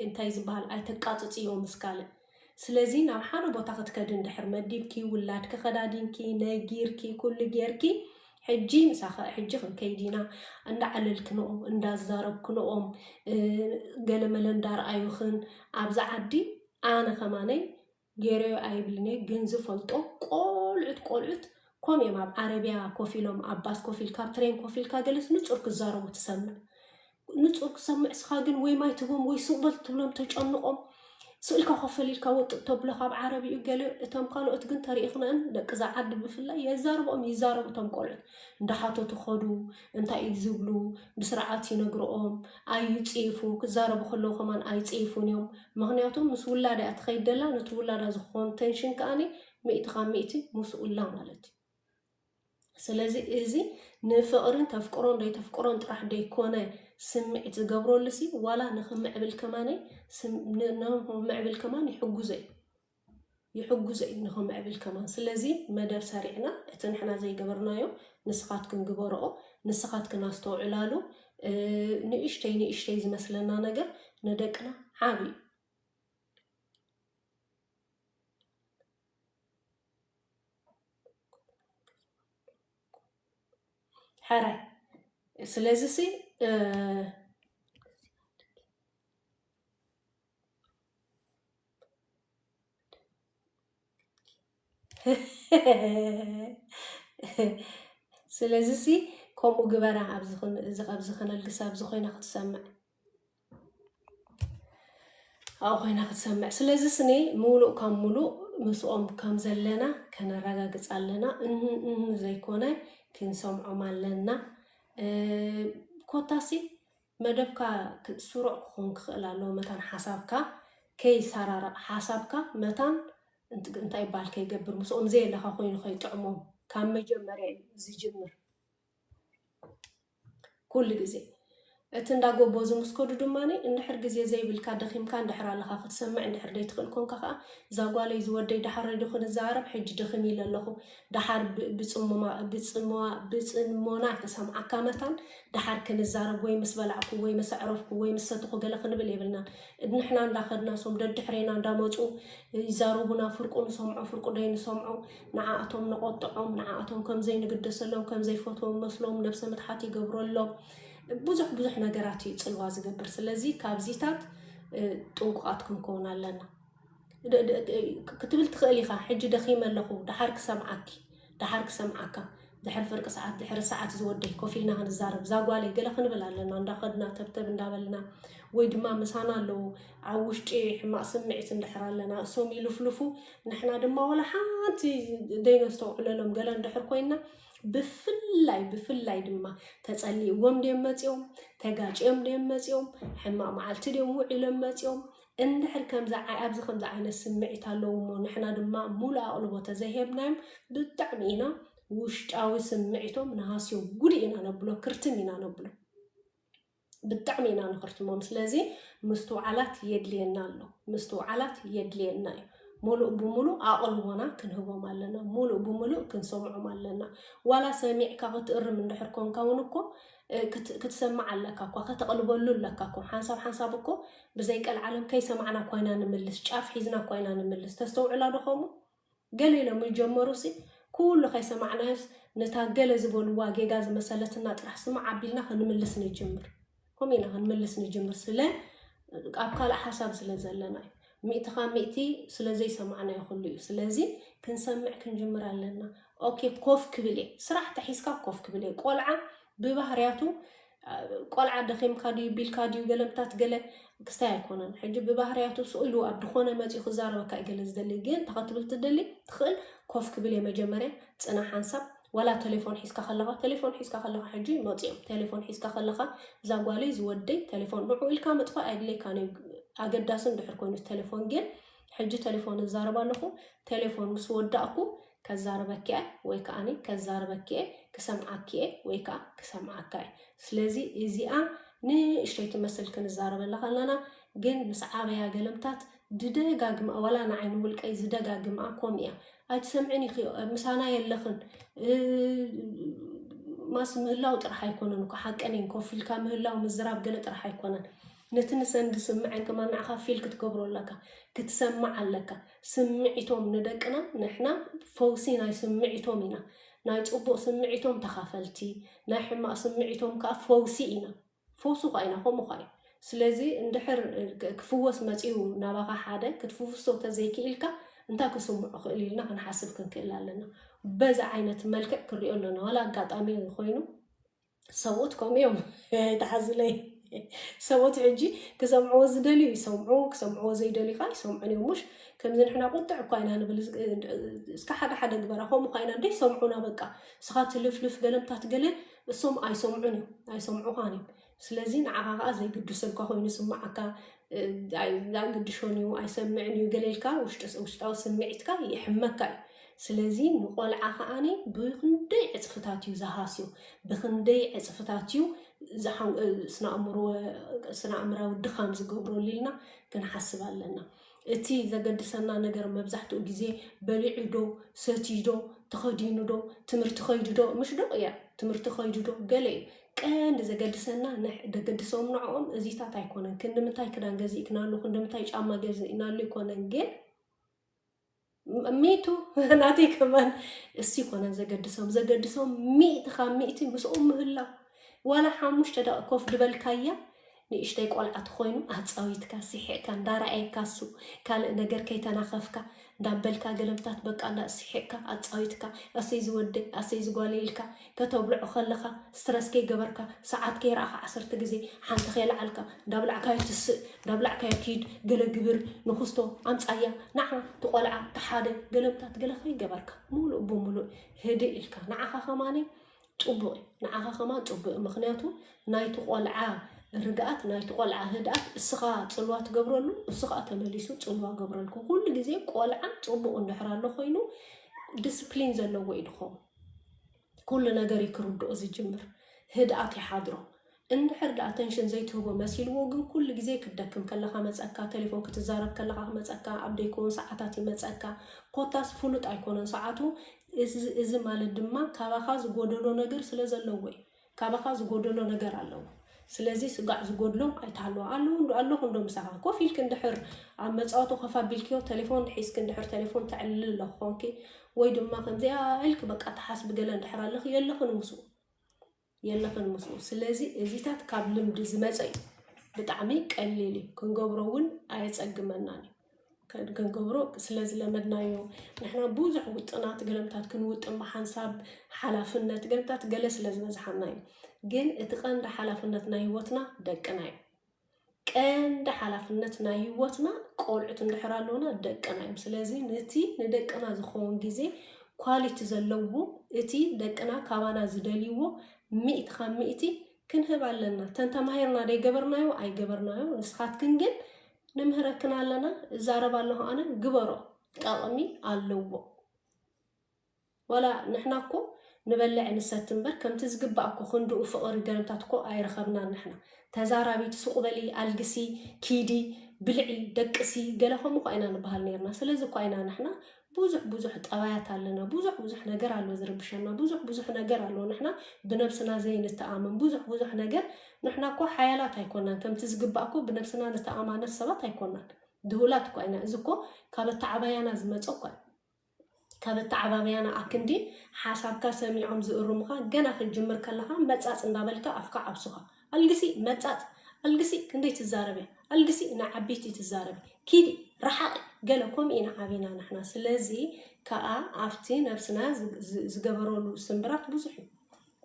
እንታይ ዝበሃል ኣይተቃፅፅዮ ምስ ካልእ ስለዚ ናብ ሓደ ቦታ ክትከዲ እንድሕር መዲብኪ፣ ውላድኪ ከዳዲንኪ፣ ነጊርኪ፣ ኩሉ ጌርኪ፣ ሕጂ ምሳኺ ሕጂ ክንከይድ ኢና እንዳዓለልክንኦም፣ እንዳዛረብክንኦም፣ ገለመለ እንዳርኣዩኽን፣ ኣብዚ ዓዲ ኣነ ከማነይ ጌረዮ ኣይብልን'የ ግን ዝፈልጦ ቆልዑት ቆልዑት ከምኡ'ዮም ኣብ ዓረብያ ኮፍ ኢሎም ኣብ ባስ ኮፍ ኢልካ ኣብ ትሬን ኮፍ ኢልካ ገለስ ንጹር ክዛረቡ ትሰምዕ። ንጹር ክሰምዕ ስኻ ግን ወይ ማይ ትህቦም ወይ ሱቕ በል ትብሎም ተጨንቖም ስእልካ ኮፈል ኢልካ ወጥጥ ተብሎ ካብ ዓረብ እዩ ገለ እቶም ካልኦት ግን ተሪኢኽናን ደቂ እዛ ዓዲ ብፍላይ የዛርቦም ይዛረቡ እቶም ቆልዑት እንዳሓተቱ ኸዱ እንታይ እዩ ዝብሉ ብስርዓት ይነግርኦም ኣይፅይፉ ክዛረቡ ከለዉ ከማን ኣይፅይፉን እዮም ምክንያቱ ምስ ውላዳ እያ ትኸይድ ደላ ነቲ ውላዳ ዝኾን ተንሽን ከዓኒ ሚእቲ ካብ ሚእቲ ምስኡላ ማለት እዩ ስለዚ እዚ ንፍቕርን ተፍቅሮን ደይተፍቅሮን ጥራሕ ደይኮነ ስምዒት ዝገብረሉሲ ዋላ ንኽምዕብል ከማነይ ንኽምዕብል ከማን ይሕጉዘ እዩ ይሕጉዘ እዩ ንኽምዕብል ከማን ስለዚ መደብ ሰሪዕና እቲ ንሕና ዘይገበርናዮ ንስኻትክን ግበረኦ ንስኻትክን ኣስተውዕላሉ ንእሽተይ ንእሽተይ ዝመስለና ነገር ንደቅና ዓብ እዩ ሕራይ ስለዚ ሲ ስለዚ ሲ ከምኡ ግበራ ኣብዚ ከነልግሳ ኣብዚ ኮይና ክትሰምዕ ኣብኡ ኮይና ክትሰምዕ ስለዚ ስኒ ምሉእ ካብ ምሉእ ምስኦም ከም ዘለና ከነረጋግፅ ኣለና እህ እህ ዘይኮነ ክንሰምዖም ኣለና ኮታሲ መደብካ ስሩዕ ክኾን ክኽእል ኣለዎ መታን ሓሳብካ ከይሰራረቕ ሓሳብካ መታን እንታይ ይበሃል ከይገብር ምስኦም ዘየለኻ ኮይኑ ከይጥዕሞም ካብ መጀመርያ እዩ ዝጅምር ኩሉ ግዜ እቲ እንዳ ጎቦ ዝምስከዱ ድማ እንድሕር ግዜ ዘይብልካ ደኺምካ እንድሕር ኣለኻ ክትሰምዕ እንድሕር ዘይትኽእል ኮንካ ከኣ እዛ ጓለይ ዝወደይ ደሓረይ ዶ ክንዘራረብ ሕጂ ደኺም ኢለ ኣለኹ ደሓር ብጽሞና ክሰምዓካ መታን ደሓር ክንዛረብ ወይ ምስ በላዕኩ ወይ ምስ ኣዕረፍኩ ወይ ምስ ሰተኹ ገለ ክንብል የብልናን ንሕና እንዳኸድና ሶም ደድሕሬና እንዳመጹ ይዛረቡና ፍርቁ ንሰምዖ ፍርቁ ደይንሰምዖ ንዓኣቶም ነቖጥዖም፣ ንዓኣቶም ከም ዘይንግደሰሎም፣ ከም ዘይፈትዎም መስሎም ነብሰ ምትሓት ይገብረሎም፣ ብዙሕ ብዙሕ ነገራት እዩ ጽልዋ ዝገብር። ስለዚ ካብዚታት ጥንቁቓት ክንከውን ኣለና ክትብል ትኽእል ኢኻ። ሕጂ ደኺመ ኣለኹ፣ ደሓር ክሰምዓኪ፣ ደሓር ክሰምዓካ ድሕሪ ፍርቂ ሰዓት ድሕሪ ሰዓት ዝወደይ ኮፍ ኢልና ክንዛረብ እዛ ጓለይ ገለ ክንብል ኣለና እንዳኸድና ተብተብ እንዳበልና ወይ ድማ ምሳና ኣለዉ ኣብ ውሽጢ ሕማቅ ስምዒት እንድሕር ኣለና እሶም ይልፍልፉ ንሕና ድማ ወላ ሓንቲ ደይነስተውዕለሎም ገለ እንድሕር ኮይና ብፍላይ ብፍላይ ድማ ተጸሊእዎም ድዮም መጺኦም ተጋጭዮም ድዮም መጺኦም ሕማቅ መዓልቲ ድዮም ውዒሎም መጺኦም እንድሕር ከምዚ ኣብዚ ከምዚ ዓይነት ስምዒት ኣለውሞ ንሕና ድማ ሙሉእ ኣቕልቦ ተዘይሄብናዮም ብጣዕሚ ኢና ውሽጣዊ ስምዒቶም ንሃስዮም ጉድ ኢና ነብሎ ክርትም ኢና ነብሎ ብጣዕሚ ኢና ንኽርትሞም ስለዚ ምስትውዓላት የድልየና ኣሎ ምስትውዓላት የድልየና እዩ ሙሉእ ብምሉእ ኣቕልቦና ክንህቦም ኣለና ሙሉእ ብምሉእ ክንሰምዖም ኣለና ዋላ ሰሚዕካ ክትእርም እንድሕር ኮንካ እውን እኮ ክትሰምዕ ኣለካ እኳ ከተቕልበሉ ኣለካ እኮ ሓንሳብ ሓንሳብ እኮ ብዘይ ቀልዓለም ከይሰማዕና እኳ ኢና ንምልስ ጫፍ ሒዝና እኳ ኢና ንምልስ ተስተውዕላ ዶ ከምኡ ገለ ኢሎም ይጀመሩሲ ኩሉ ከይሰማዕናዮስ ነታ ገለ ዝበልዋ ጌጋ ዝመሰለትና ጥራሕ ስማዕ ኣቢልና ክንምልስ ንጅምር ከምኡ ኢና ክንምልስ ንጅምር ስለ ኣብ ካልእ ሓሳብ ስለ ዘለና እዩ ሚእቲ ካብ ሚእቲ ስለ ዘይሰማዕናዮ ኩሉ እዩ ስለዚ ክንሰምዕ ክንጅምር ኣለና ኦኬ ኮፍ ክብል እየ ስራሕ ተሒዝካ ኮፍ ክብል እየ ቆልዓ ብባህርያቱ ቆልዓ ደኺምካ ድዩ ቢልካ ድዩ ገለምታት ገለ ክስታይ ኣይኮነን ሕጂ ብባህርያቱ ስእሉ ኣብ ድኾነ መፅኡ ክዛረበካ እዩ ገለ ዝደሊ ግን ተኸትብል ትደሊ ትኽእል ኮፍ ክብል እየ መጀመርያ ፅና ሓንሳብ ዋላ ቴሌፎን ሒዝካ ከለኻ ቴሌፎን ሒዝካ ከለኻ ሕጂ መፂኦም ቴሌፎን ሒዝካ ከለኻ እዛ ጓለይ ዝወደይ ቴሌፎን ንዑ ኢልካ ምጥፋእ ኣየድለይካን እዩ ኣገዳሲ እንድሕር ኮይኑ ቴሌፎን ግን ሕጂ ቴሌፎን እዛረብ ኣለኹ ቴሌፎን ምስ ወዳእኩ ከዛርበኪ እየ ወይ ከዓኒ ከዛርበኪ እየ ክሰምዓኪ እየ ወይ ከዓ ክሰምዓካ እየ ስለዚ እዚኣ ንእሽተይ ትመስል ክንዛረበላ ከለና ግን ምስ ዓበያ ገለምታት ድደጋግማ ዋላ ንዓይ ንውልቀይ ዝደጋግማ ኮም እያ ኣይትሰምዕን ኢኺ ምሳና የለኽን ማስ ምህላው ጥራሕ ኣይኮነን እኮ ሓቀኔን ኮፍ ኢልካ ምህላው ምዝራብ ገለ ጥራሕ ኣይኮነን ነቲ ንሰን ዝስምዐን ከማ ንዓኻ ፊል ክትገብሮ ኣለካ ክትሰምዕ ኣለካ ስምዒቶም ንደቅና ንሕና ፈውሲ ናይ ስምዒቶም ኢና ናይ ፅቡቕ ስምዒቶም ተኻፈልቲ ናይ ሕማቕ ስምዒቶም ከዓ ፈውሲ ኢና ፈውሱ ኸኣይና ከምኡ ኸኣዩ ስለዚ እንድሕር ክፍወስ መጺኡ ናባኻ ሓደ ክትፍውሶ ተዘይክኢልካ እንታይ ክስምዖ ክእል ኢልና ክንሓስብ ክንክእል ኣለና በዚ ዓይነት መልክዕ ክንሪኦ ኣለና ዋላ ኣጋጣሚ ኮይኑ ሰብኡት ከምኡ እዮም ኣይተሓዝለይ ሰብኡት ሕጂ ክሰምዕዎ ዝደልዩ ይሰምዑ ክሰምዕዎ ዘይደልዩ ከዓ ይሰምዑን እዮም ሙሽ ከምዚ ንሕና ቁጥዕ እኳ ኢና ንብል እስካ ሓደ ሓደ ግበራ ከምኡ ኳ ኢና እንደ ሰምዑና በቃ ስኻ ትልፍልፍ ገለምታት ገለ እሶም ኣይሰምዑን እዮም ኣይሰምዑኻን እዮም ስለዚ ንዓኻ ከዓ ዘይግድሰልካ ኮይኑ ስምዓካ ኣይግድሾን እዩ ኣይሰምዕን እዩ ገሌልካ ውሽጣዊ ስምዒትካ ይሕመካ እዩ ስለዚ ንቆልዓ ከዓኒ ብክንደይ ዕፅፍታት እዩ ዝሃስዩ ብክንደይ ዕፅፍታት እዩ ስነ ኣእምራዊ ድኻም ዝገብረሉ ኢልና ክንሓስብ ኣለና እቲ ዘገድሰና ነገር መብዛሕትኡ ግዜ በሊዑ ዶ፣ ሰትዩ ዶ፣ ተኸዲኑ ዶ፣ ትምህርቲ ከይዱ ዶ፣ ምሽ ዶ እያ ትምህርቲ ከይዱ ዶ ገለ እዩ ቀንዲ ዘገድሰና ንሕ- ዘገድሶም ንዕኦም እዚታት ኣይኮነን። ክንዲ ምንታይ ክዳን ገዚእክናሉ፣ ክንዲ ምንታይ ጫማ ገዚእናሉ ኣይኮነን ግን ሚቱ ናተይ ከማን እሱ ይኮነን ዘገድሶም ዘገድሶም ሚእቲ ካብ ሚእቲ ምስኦም ምህላው ዋላ ሓሙሽተ ደቂ ኮፍ ድበልካያ ንእሽተይ ቆልዓ ትኮይኑ ኣፃዊትካ ስሒቕካ እንዳረኣየካ እሱ ካልእ ነገር ከይተናኸፍካ እንዳበልካ ገለምታት በቃ እንዳ ስሒቕካ ኣፃዊትካ ኣሰይ ዝወደይ ኣሰይ ዝጓለይልካ ከተብልዖ ከለኻ ስትረስ ከይገበርካ ሰዓት ከይረኣኻ ዓሰርተ ግዜ ሓንቲ ከይለዓልካ እንዳብላዕካዮ ትስእ እንዳብላዕካዮ ኪድ ገለ ግብር ንኹስቶ ኣምጻያ ንዓ እቲ ቆልዓ እቲ ሓደ ገለምታት ገለ ከይገበርካ ሙሉእ ብሙሉእ ህድእ ኢልካ ንዓኻ ከማኒ ፅቡቅ እዩ ንዓኻ ከማን ፅቡቅ እዩ ምክንያቱ ናይቲ ቆልዓ ርግኣት ናይቲ ቆልዓ ህድኣት እስኻ ፅልዋ ትገብረሉ እሱ ከዓ ተመሊሱ ፅልዋ ገብረልኩ ኩሉ ግዜ ቆልዓ ፅቡቅ እንድሕር ኣሎ ኮይኑ ዲስፕሊን ዘለዎ እዩ ድኸውን ኩሉ ነገር እዩ ክርድኦ ዝጅምር ህድኣት ይሓድሮ እንድሕር ደኣ ኣተንሽን ዘይትህቦ መሲልዎ ግን ኩሉ ግዜ ክትደክም ከለካ መፀካ ቴሌፎን ክትዛረብ ከለካ ክመፀካ ኣብ ደይከውን ሰዓታት ይመፀካ ኮታስ ፍሉጥ ኣይኮነን ሰዓቱ እዚ ማለት ድማ ካባካ ዝጎደሎ ነገር ስለ ዘለዎ እዩ ካባኻ ዝጎደሎ ነገር ኣለዎ ስለዚ ስጋዕ ዝጎድሎም ኣይትሃልዋ ኣለዉ እንዶ ኣለኹ እንዶ ምሳኻ ኮፍ ኢልክ እንድሕር ኣብ መፃወቱ ኮፍ ኣቢልክዮ ቴሌፎን ሒዝክ እንድሕር ቴሌፎን ተዕልል ኣለኹ ኮንኪ ወይ ድማ ከምዚኣ ኢልክ በቃ ተሓስቢ ገለ እንድሕር ኣለኽ የለኽን ምስኡ የለኽን ምስኡ ስለዚ እዚታት ካብ ልምዲ ዝመፀ እዩ ብጣዕሚ ቀሊል እዩ ክንገብሮ እውን ኣየፀግመናን እዩ ክንገብሮ ስለ ዝለመድናዮ ንሕና ብዙሕ ውጥናት ገለምታት ክንውጥን ብሓንሳብ ሓላፍነት ገለምታት ገለ ስለ ዝበዝሓና እዩ ግን እቲ ቀንዲ ሓላፍነት ናይ ህይወትና ደቅና እዩ ቀንዲ ሓላፍነት ናይ ህይወትና ቆልዑት እንድሕር ኣለውና ደቅና እዮም ስለዚ ነቲ ንደቅና ዝኸውን ግዜ ኳሊቲ ዘለዎ እቲ ደቅና ካባና ዝደልይዎ ሚእቲ ካብ ሚእቲ ክንህብ ኣለና ተንተማሂርና ደይገበርናዮ ኣይገበርናዮ ንስኻትክን ግን ንምህረክን ኣለና እዛረብ ኣለኹ ኣነ ግበሮ ጠቕሚ ኣለዎ ዋላ ንሕና እኮ ንበልዕ ንሰት እምበር ከምቲ ዝግባእ እኮ ክንድኡ ፍቕሪ ገረምታት እኮ ኣይረኸብናን ንሕና ተዛራቢት ሱቕ በሊ ኣልግሲ ኪዲ ብልዒ ደቅሲ ገለ ከምኡ እኳ ኢና ንበሃል ነርና ስለዚ እኳ ኢና ንሕና ብዙሕ ብዙሕ ጠባያት ኣለና ብዙሕ ብዙሕ ነገር ኣሎ ዝርብሸና ብዙሕ ብዙሕ ነገር ኣሎ ንሕና ብነብስና ዘይንተኣመን ብዙሕ ብዙሕ ነገር ንሕና እኮ ሓያላት ኣይኮናን ከምቲ ዝግባእ እኮ ብነብስና ንተኣማነት ሰባት ኣይኮናን ድሁላት እኳ ኢና እዚ እኮ ካብ ኣተዓባያና ዝመፀ እኳ እዩ ካብ ኣተዓባብያና ኣክንዲ ሓሳብካ ሰሚዖም ዝእርሙኻ ገና ክትጅምር ከለኻ መፃፅ እንዳበልካ ኣፍካ ዓብሱኻ ኣልግሲ መጻጽ ኣልግሲ ክንደይ ትዛረቢ ኣልግሲ ንዓቢይቲ ትዛረቢ ኪዲ ራሓቂ ገለ ኮምኡ ኢና ዓቢና ንሕና ስለዚ ካኣ ኣብቲ ነብስና ዝገበሮሉ ስንብራት ብዙሕ እዩ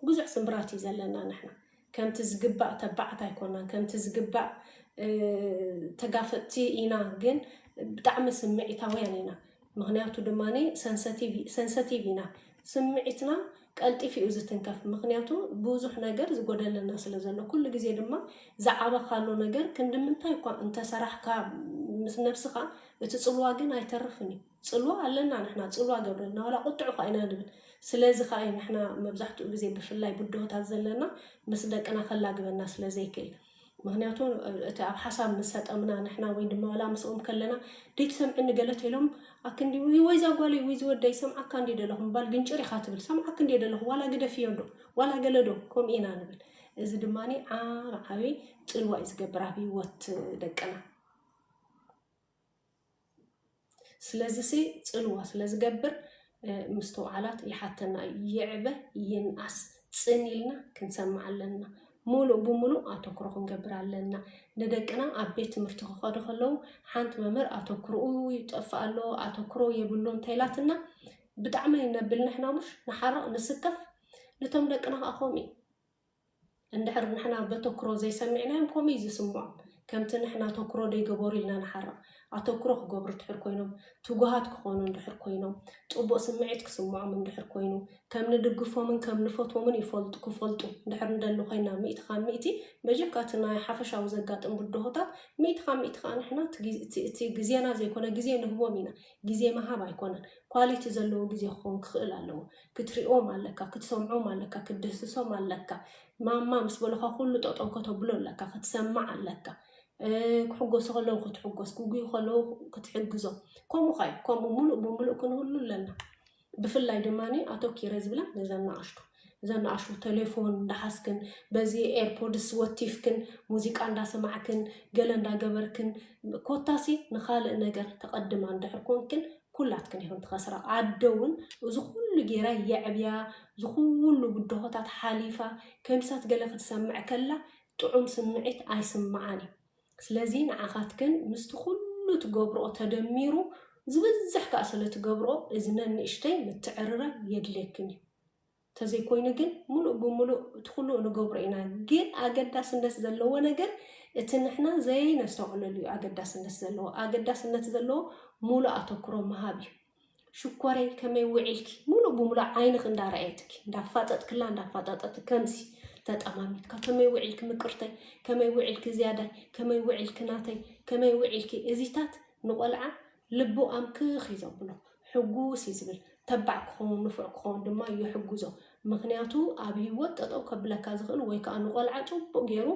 ብዙሕ ስንብራት እዩ ዘለና ንሕና ከምቲ ዝግባእ ተባዓት ኣይኮናን ከምቲ ዝግባእ ተጋፈጥቲ ኢና ግን ብጣዕሚ ስምዒታውያን ኢና ምኽንያቱ ድማ ሰንሰቲቭ ሰንሰቲቭ ኢና ስምዒትና ቀልጢፍ እዩ ዝትንከፍ ምኽንያቱ ብዙሕ ነገር ዝጎደለና ስለ ዘሎ ኩሉ ግዜ ድማ ዝዓበኻሉ ነገር ክንዲ ምንታይ እኳ እንተሰራሕካ ምስ ነብስኻ እቲ ጽልዋ ግን ኣይተርፍን እዩ ጽልዋ ኣለና ንሕና ጽልዋ ገብረልና ዋላ ቁጥዑ ኳ ኢና ንብል ስለዚ ከዓ እዩ ንሕና መብዛሕትኡ ግዜ ብፍላይ ብድሆታት ዘለና ምስ ደቅና ከላግበና ስለ ዘይክእል ምክንያቱ እቲ ኣብ ሓሳብ ምስ ሰጠምና ንሕና ወይ ድማ ዋላ ምስኦም ከለና ደይትሰምዕኒ ገለ ተኢሎም ኣክንዲ ወይ እዛ ጓለይ ወይ እዚ ወደይ ሰምዓካ እንዲ ደለኹ ምባል ግንጭር ኢኻ ትብል ሰምዓክ እንዲ ደለኹ ዋላ ግደፍዮ ዶ ዋላ ገለ ዶ ከምኡ ኢና ንብል እዚ ድማ ዓብ ዓብይ ፅልዋ እዩ ዝገብር ኣብ ሂወት ደቅና ስለዝሲ ጽልዋ ስለ ዝገብር ምስትውዓላት ይሓተና እዩ። ይዕበ ይንኣስ ጽን ኢልና ክንሰምዕ ኣለና። ሙሉእ ብሙሉእ ኣተኩሮ ክንገብር ኣለና። ንደቅና ኣብ ቤት ትምህርቲ ክኸዱ ከለዉ ሓንቲ መምህር ኣተኩርኡ ይጠፍእ ኣሎ ኣተኩሮ የብሉ እንተይላትና ብጣዕሚ ነብል ንሕና ሙሽ ንሓርቕ ንስከፍ ንቶም ደቅና ከዓ ከምኡ እዩ። እንድሕር ንሕና በተኩሮ ዘይሰሚዕናዮም ከምኡ እዩ ዝስምዖም። ከምቲ ንሕና ኣተኩሮ ደይገበሩ ኢልና ንሓርቕ። ኣተኩሮ ክገብሩ እንድሕር ኮይኖም፣ ትጉሃት ክኾኑ እንድሕር ኮይኖም፣ ጽቡቕ ስምዒት ክስምዖም እንድሕር ኮይኑ፣ ከም ንድግፎምን ከም ንፈትዎምን ይፈልጡ ክፈልጡ እንድሕር ንደሊ ኮይና ሚእቲ ካብ ሚእቲ በጀካ እቲ ናይ ሓፈሻዊ ዘጋጥም ብድሆታት ሚእቲ ካብ ሚእቲ ከኣ ንሕና እቲ ግዜና ዘይኮነ ግዜ ንህቦም ኢና። ግዜ ምሃብ ኣይኮነን፣ ኳሊቲ ዘለዎ ግዜ ክኸውን ክኽእል ኣለዎ። ክትሪኦም ኣለካ ክትሰምዖም ኣለካ ክትድህስሶም ኣለካ ማማ ምስ በለካ ኩሉ ጠጠው ከተብሎ ኣለካ ክትሰምዕ ኣለካ ክሕጎሱ ከለዉ ክትሕጎስ ክጉዩ ከለዉ ክትሕግዞ ከምኡ ካዩ ከምኡ ሙሉእ ብሙሉእ ክንህሉ ኣለና ብፍላይ ድማ ኣተኪረ ዝብላ ነዛ ናኣሽቱ እዛ ናኣሽቱ ቴሌፎን እንዳሓዝክን በዚ ኤርፖድስ ወቲፍክን ሙዚቃ እንዳሰማዕክን ገለ እንዳገበርክን ኮታሲ ንካልእ ነገር ተቐድማ እንድሕር ኮንክን ኩላትክን ኢኹን ትኸስራ። ኣደ እውን እዚ ኩሉ ገይራ የዕብያ እዚ ኩሉ ብድሆታት ሓሊፋ ከምሳት ገለ ክትሰምዕ ከላ ጥዑም ስምዒት ኣይስምዓን እዩ። ስለዚ ንዓኻትክን ምስቲ ኩሉ ትገብርኦ ተደሚሩ ዝበዝሕ ከኣ ስለ ትገብርኦ እዚ ነንእሽተይ ምትዕርራይ የድልየክን እዩ። ተዘይኮይኑ ግን ሙሉእ ብሙሉእ እቲ ኩሉ ንገብሮ ኢና ግን ኣገዳስነት ዘለዎ ነገር እቲ ንሕና ዘይነስተውዕለሉ እዩ ኣገዳስነት ዘለዎ ኣገዳስነት ዘለዎ ሙሉእ ኣተኩሮ ምሃብ እዩ ሽኮረይ ከመይ ውዒልኪ ሙሉእ ብሙሉእ ዓይንኽ እንዳረኣየትኪ እንዳፋጠጥክላ እንዳፋጠጠት ከምዚ ተጠማሚትካ ከመይ ውዒልኪ ምቅርተይ ከመይ ውዒልኪ ዝያዳይ ከመይ ውዒልኪ ናተይ ከመይ ውዒልኪ እዚታት ንቆልዓ ልቡ ኣምክኽ እዩ ዘብሎ፣ ሕጉስ እዩ ዝብል፣ ተባዕ ክኸውን ንፉዕ ክኸውን ድማ ይሕግዞ፣ ምኽንያቱ ኣብ ህይወት ጠጠው ከብለካ ዝኽእል ወይ ከዓ ንቆልዓ ፅቡቕ ገይሩ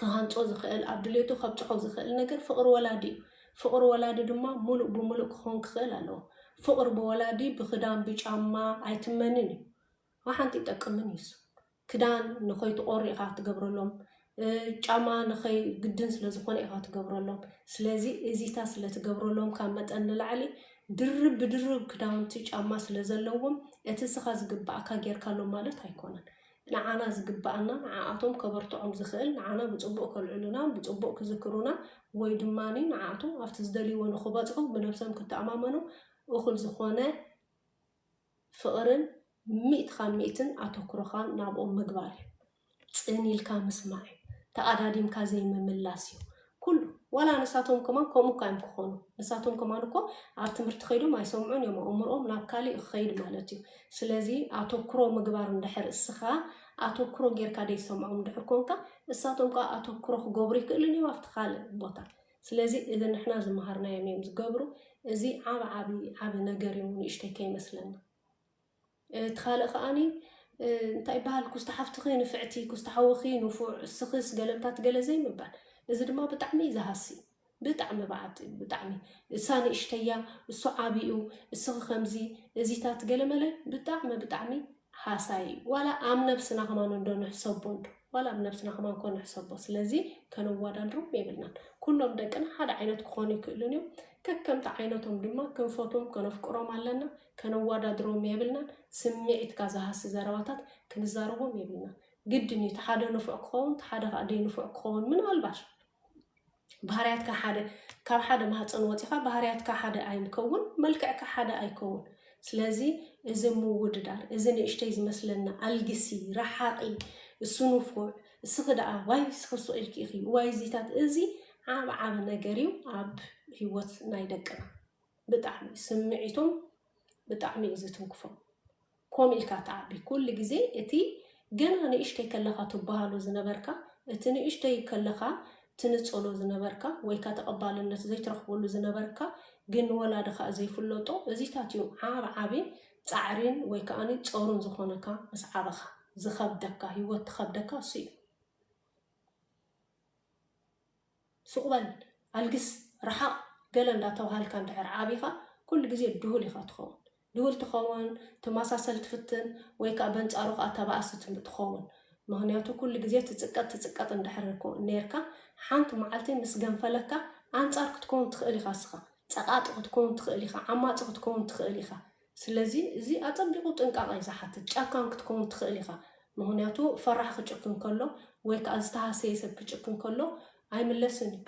ክሃንፆ ዝኽእል ኣብ ድሌቱ ከብፅሖ ዝኽእል ነገር ፍቕሪ ወላዲ እዩ። ፍቕሪ ወላዲ ድማ ሙሉእ ብሙሉእ ክኸውን ክኽእል ኣለዎ። ፍቕሪ ብወላዲ ብኽዳን ብጫማ ኣይትመንን እዩ። ንሓንቲ ይጠቅምን እዩስ ክዳን ንኸይትቆሪ ኢኻ ትገብረሎም ጫማ ንኸይ ግድን ስለ ዝኾነ ኢኻ ትገብረሎም ስለዚ እዚታ ስለ ትገብረሎም ካብ መጠን ንላዕሊ ድርብ ብድርብ ክዳውንቲ ጫማ ስለ ዘለዎም እቲ እስኻ ዝግባኣካ ጌርካሎም ማለት ኣይኮነን ንዓና ዝግባኣና ንዓኣቶም ከበርትዖም ዝኽእል ንዓና ብጽቡቕ ከልዕሉና ብጽቡቕ ክዝክሩና ወይ ድማ ንዓኣቶም ኣብቲ ዝደልይዎ ንኽበጽሑ ብነብሶም ክተኣማመኑ እኹል ዝኾነ ፍቕርን ሚእቲ ካብ ሚእትን ኣተኩሮኻን ናብኦም ምግባር እዩ። ጽን ኢልካ ምስማዕ እዩ። ተቐዳዲምካ ዘይምምላስ እዩ። ኩሉ ዋላ ንሳቶም ከማን ከምኡ እኳ እዮም ክኾኑ ንሳቶም ከማን እኮ ኣብ ትምህርቲ ከይዶም ኣይሰምዑን እዮም ኣእምሮኦም ናብ ካሊእ ክኸይድ ማለት እዩ ስለዚ ኣተኩሮ ምግባር እንድሕር እስኻ ኣተኩሮ ጌርካ ደይሰምዖም እንድሕር ኮንካ እሳቶም ከዓ ኣተኩሮ ክገብሩ ይክእሉን እዮም ኣብቲ ካልእ ቦታ ስለዚ እዚ ንሕና ዝመሃርናዮም እዮም ዝገብሩ እዚ ዓብ ዓብ ዓብ ነገር እዩ ንእሽተይ ከይመስለና እቲ ካልእ ከኣኒ እንታይ ይበሃል ኩስቲ ሓፍትኺ ንፍዕቲ ኩስቲ ሓውኺ ንፉዕ እስኽስ ገለምታት ገለ ዘይምባል እዚ ድማ ብጣዕሚ ዝሃሲ ብጣዕሚ በዓቲ ብጣዕሚ እሳ ንእሽተያ እሱ ዓብኡ እስኺ ከምዚ እዚታት ገለመለ ብጣዕሚ ብጣዕሚ ሃሳይ እዩ ዋላ ኣብ ነብስና ከማን እንዶ ንሕሰቦ እንዶ ዋላ ኣብ ነብስና ከማን ኮ ንሕሰቦ ስለዚ ከነዋዳድሮም የብልናን ኩሎም ደቅና ሓደ ዓይነት ክኾኑ ይክእሉን እዮም ከከምቲ ዓይነቶም ድማ ክንፈትዎም ከነፍቅሮም ኣለና ከነዋዳድሮም የብልናን ስምዒትካ ዝሃሲ ዘረባታት ክንዛረቦም የብልናን ግድን እዩ ተሓደ ንፉዕ ክኸውን ተሓደ ከዓ ደይ ንፉዕ ክኸውን ምናልባሽ ባህርያትካ ሓደ ካብ ሓደ ማህፀን ወፂኻ ባህርያትካ ሓደ ኣይንከውን መልክዕካ ሓደ ኣይከውን ስለዚ እዚ ምውድዳር እዚ ንእሽተይ ዝመስለና ኣልግሲ ረሓቂ እሱ ንፉዕ እስኺ ደኣ ዋይ እስኺ ስቕ ኢልኪ ኢኺ ዋይ እዚታት እዚ ዓብ ዓብ ነገር እዩ ኣብ ህይወት ናይ ደቅና ብጣዕሚ ስምዒቶም ብጣዕሚ እዩ ዝትንክፎም ኮም ኢልካ ትዓቢ ኩሉ ግዜ እቲ ገና ንእሽተይ ከለኻ ትበሃሎ ዝነበርካ እቲ ንእሽተይ ከለኻ ትንጸሎ ዝነበርካ ወይካ ተቀባልነት ዘይትረኽበሉ ዝነበርካ ግን ንወላድኻ ዘይፍለጦ እዚታት እዩ ዓብ ዓቢ ጻዕሪን ወይ ከኣ ጸሩን ዝኾነካ ምስ ዓበኻ ዝኸብደካ ሂወት ትኸብደካ እሱ እዩ። ሱቅ በል ኣልግስ ርሓቅ ገለ እንዳተባሃልካ እንድሕር ዓቢኻ ኩሉ ግዜ ድሁል ኢኻ ትኸውን ድሁል ትኸውን ትማሳሰል ትፍትን ወይ ከኣ በንጻሩ ከኣ ተባኣሲ ትኸውን ምኽንያቱ ኩሉ ግዜ ትጽቀጥ ትጽቀጥ እንድሕር ኔርካ ሓንቲ መዓልቲ ምስ ገንፈለካ ኣንጻር ክትከውን ትኽእል ኢኻ እስኻ ጸቃጢ ክትከውን ትኽእል ኢኻ ዓማጺ ክትከውን ትኽእል ኢኻ ስለዚ እዚ ኣጸቢቑ ጥንቃቐ ዝሓትት ጨካን ክትከውን ትኽእል ኢኻ፣ ምኽንያቱ ፈራሕ ክጭክን ከሎ ወይ ከኣ ዝተሃሰየ ሰብ ክጭክን ከሎ ኣይምለስን እዩ።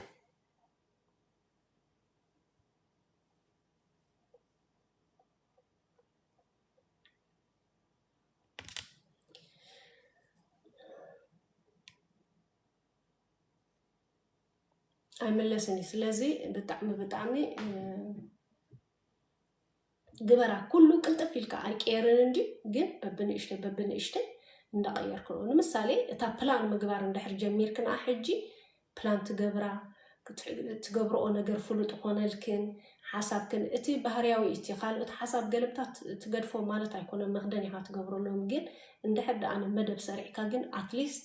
ኣይምለስን እዩ። ስለዚ ብጣዕሚ ብጣዕሚ ግበራ ኩሉ ቅልጥፍ ኢልካ ኣይቅየርን እንድዩ ግን በብንእሽተይ በብንእሽተይ እንዳቐየርክ ነው ንምሳሌ እታ ፕላን ምግባር እንድሕር ጀሚርክ ንኣ ሕጂ ፕላን ትገብራ ትገብርኦ ነገር ፍሉጥ ኾነልክን ሓሳብክን እቲ ባህርያዊ እቲ ካልኦት ሓሳብ ገለብታት ትገድፎ ማለት ኣይኮነን መኽደን ኢኻ ትገብረሎም ግን እንድሕር ደኣ መደብ ሰሪዕካ ግን ኣትሊስት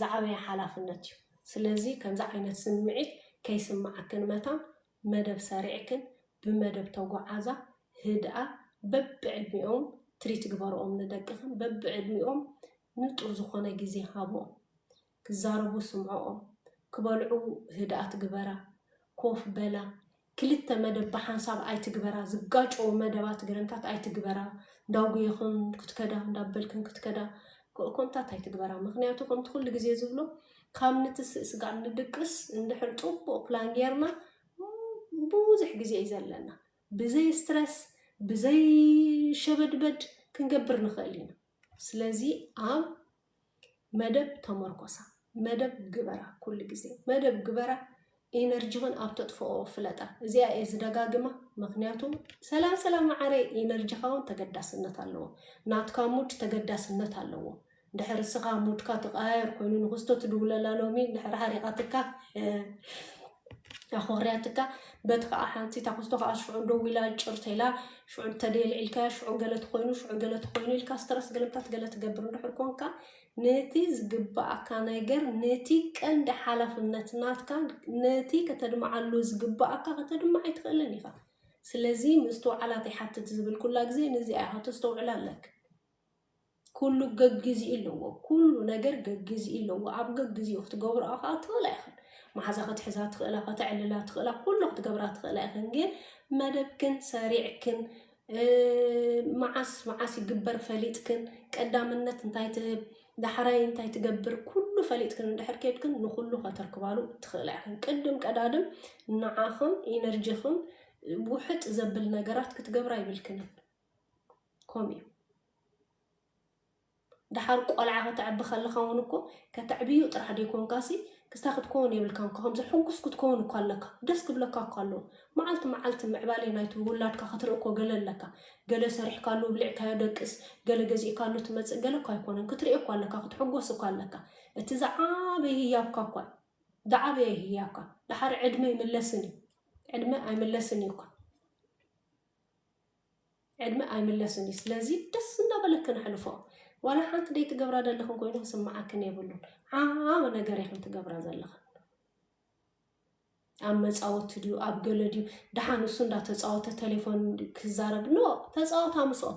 ዝዓበየ ሓላፍነት እዩ። ስለዚ ከምዚ ዓይነት ስምዒት ከይስምዓክን መታን መደብ ሰሪዕክን ብመደብ ተጉዓዛ ህድኣ በብዕድሚኦም ትሪት ግበርኦም ንደቅክን በብዕድሚኦም ንጡር ዝኾነ ግዜ ሃብኦም ክዛረቡ ስምዕኦም ክበልዑ ህድኣት ግበራ ኮፍ በላ ክልተ መደብ ብሓንሳብ ኣይትግበራ፣ ዝጋጨዉ መደባት ገረንታት ኣይትግበራ፣ እንዳጉየኽን ክትከዳ እንዳበልክን ክትከዳ ኮምታት ኣይትግበራ፣ ምኽንያቱ ከምቲ ኩሉ ግዜ ዝብሎ ካብ ንትስእ ስጋዕ ንድቅስ እንድሕር ጽቡቕ ፕላን ጌርና ብዙሕ ግዜ እዩ ዘለና ብዘይ ስትረስ ብዘይ ሸበድበድ ክንገብር ንኽእል ኢና። ስለዚ ኣብ መደብ ተመርኮሳ፣ መደብ ግበራ፣ ኩሉ ግዜ መደብ ግበራ፣ ኢነርጂኽን ኣብ ተጥፍኦ ፍለጣ። እዚኣ እየ ዝደጋግማ፣ ምኽንያቱ ሰላም ሰላም መዓረይ፣ ኢነርጂኻ እውን ተገዳስነት ኣለዎ፣ ናትካ ሙድ ተገዳስነት ኣለዎ። ድሕር እስኻ ሙድካ ትቀያየር ኮይኑ ንክስቶ ትድውለላ ሎሚ ድሕር ሓሪቓትካ ኣኾርያትካ በቲ ከዓ ሓንቲ እታ ክስቶ ከዓ ሽዑ ደው ኢላ ጭር ተላ ሽዑ እንተደይ ልዒልካያ ሽዑ ገለ ትኮይኑ ሽዑ ገለ ትኮይኑ ኢልካ ስትረስ ገለምታት ገለ ትገብር እንድሕር ኮንካ ነቲ ዝግባኣካ ነገር ነቲ ቀንዲ ሓላፍነት ናትካ ነቲ ከተድምዓሉ ዝግባኣካ ከተድምዕ ኣይትኽእልን ኢኻ ስለዚ ምስትውዓላት ይሓትት ዝብል ኩላ ግዜ ነዚኣ ኢኻ ተስተውዕላ ኣለክ ኩሉ ገግዚኡ ኣለዎ ኩሉ ነገር ገግዚኡ ኣለዎ ኣብ ገግዚኡ ክትገብርኦ ከዓ ትኽእላ ኢኽን መሓዛ ክትሕዛ ትኽእላ ከተዕልላ ትኽእላ ኩሉ ክትገብራ ትኽእላ ኢኽን ግን መደብክን ሰሪዕክን መዓስ መዓስ ይግበር ፈሊጥክን ቀዳምነት እንታይ ትህብ ዳሕራይ እንታይ ትገብር ኩሉ ፈሊጥክን እንድሕር ኬድክን ንኩሉ ከተርክባሉ ትኽእላ ኢኽን ቅድም ቀዳድም ንዓኽን ኢነርጂኽን ውሕጥ ዘብል ነገራት ክትገብራ ይብልክንን ከምኡ እዩ ድሓር ቆልዓ ከተዕቢ ከለኻ እውን እኮ ከተዕብዩ ጥራሕ ደይኮንካሲ ክስታ ክትከውን የብልካን ከምዚ ሕጉስ ክትከውን እኳ ኣለካ ደስ ክብለካ እኳ ኣለዎ መዓልቲ መዓልቲ ምዕባሌ ናይቲ ውላድካ ክትርኢ እኮ ገለ ኣለካ ገለ ሰሪሕካሉ ብልዕካዮ ደቅስ ገለ ገዚእካሉ ትመፅእ ገለ እኳ ኣይኮነን ክትርኢ እኳ ኣለካ ክትሕጎስ እኳ ኣለካ እቲ ዝዓበይ ህያብካ እኳ ዝዓበየ ህያብካ ድሓር ዕድመ ይምለስን እዩ ዕድመ ኣይምለስን እዩ እኳ ዕድመ ኣይምለስን እዩ ስለዚ ደስ እናበለክን ኣሕልፎ ዋላ ሓንቲ ደይ ትገብራ ዘለኽን ኮይኑ ክስምዓክን የብሉን ዓብ ነገር ኢኽን ትገብራ ዘለኽን ኣብ መፃወቲ ድዩ ኣብ ገለ ድዩ ድሓን ንሱ እንዳተፃወተ ቴሌፎን ክዛረብ ኖ ተፃወታ ምስኦ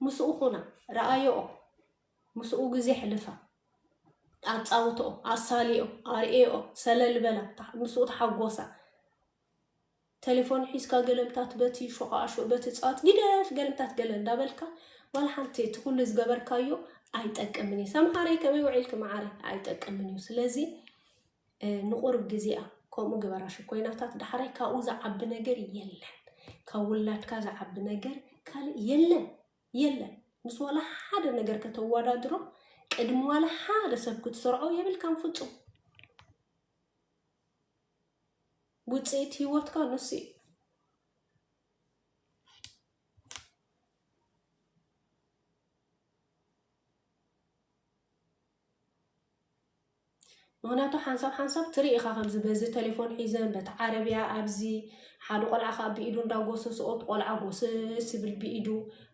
ምስኡ ኹና ረኣየኦ ምስኡ ግዜ ሕልፋ ኣፃውትኦ ኣሳልኦ ኣርእኦ ሰለልበላ ምስኡ ተሓጎሳ ተሌፎን ሒዝካ ገለምታት በቲ ሾቓኣሾ በቲ ጸዋት ጊደፍ ገለምታት ገለ እንዳበልካ ዋላ ሓንቲ እቲ ኩሉ ዝገበርካዮ ኣይጠቅምን እዩ ሰምሃረይ ከመይ ውዒልኪ መዓረይ ኣይጠቅምን እዩ ስለዚ ንቑርብ ግዜኣ ከምኡ ግበራ ሽኮይናታት ዳሕራይ ካብኡ ዝዓቢ ነገር የለን ካብ ውላድካ ዝዓቢ ነገር ካልእ የለን የለን ምስ ዋላ ሓደ ነገር ከተወዳድሮ ቅድሚ ዋላ ሓደ ሰብ ክትሰርዖ የብልካን ፍፁም ውፅኢት ህይወትካ ንሱ እዩ። ምክንያቱ ሓንሳብ ሓንሳብ ትርኢ ኢኻ ከምዚ በዚ ቴሌፎን ሒዘን በቲ ዓረብያ ኣብዚ ሓደ ቆልዓ ከዓ ብኢዱ እንዳጎሰስኦ እቲ ቆልዓ ጎስስ ይብል ብኢዱ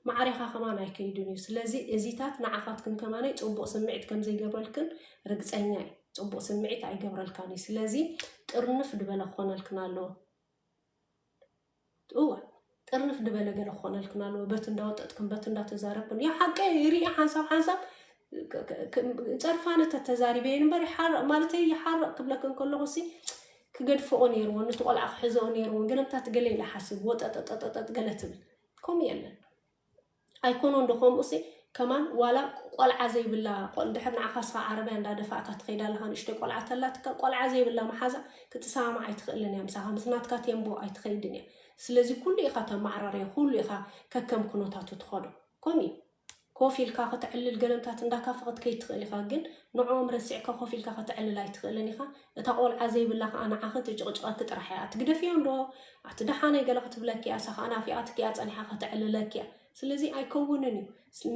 ማዕሪኻ ከማን ኣይከይድን እዩ ስለዚ እዚታት ንዓኻትክን ከማን ፅቡቅ ስምዒት ከምዘይገብረልክን ርግፀኛ እዩ ፅቡቅ ስምዒት ኣይገብረልካን እዩ ስለዚ ጥርንፍ ድበለ ክኾነልክን ኣለዎ እወ ጥርንፍ ድበለ ገለ ክኾነልክን ኣለዎ በት እንዳወጠጥክን በት እንዳተዛረብክን ያ ሓቂ ይርኢ ሓንሳብ ሓንሳብ ፀርፋነ ተተዛሪበ እየ ንበር ይሓርቕ ማለት ይሓርቕ ክብለክን ከለኹ ሲ ክገድፍኦ ነይርዎ ነቲ ቆልዓ ክሕዘኦ ነይርዎ ገለምታት ገለ ኢለ ሓስብ ወጠጠጠጠጠጥ ገለ ትብል ከምኡ የለን ኣይኮኖን ዶ ከምኡሲ ከማን ዋላ ቆልዓ ዘይብላ ድሕር ንዓኻ ስኻ ዓረብያ እንዳደፋእካ ትኸይድ ኣለኻ ንእሽተይ ቆልዓ ተላትካ ቆልዓ ዘይብላ መሓዛ ክትሰማማዕ ኣይትኽእልን እያ ምሳኻ ምስ ናትካ ቴምቦ ኣይትኸይድን እያ ስለዚ ኩሉ ኢኻ ተማዕራርዮ ኩሉ ኢኻ ከከም ኩነታቱ ትኸዶ ከምኡ እዩ ኮፍ ኢልካ ከተዕልል ገለምታት እንዳካፈ ክትከይድ ትኽእል ኢኻ ግን ንዕኦም ረሲዕካ ኮፍ ኢልካ ከተዕልል ኣይትኽእልን ኢኻ እታ ቆልዓ ዘይብላ ከኣ ንዓኺ ትጭቕጭቐኪ ጥራሕ እያ። ኣትግደፍዮ እንዶ ኣቲ ደሓነይ ገለ ክትብለኪ እያ፣ እሳ ከኣ ናፊቓትኪ እያ ጸኒሓ ከተዕልለኪ እያ። ስለዚ ኣይከውንን እዩ።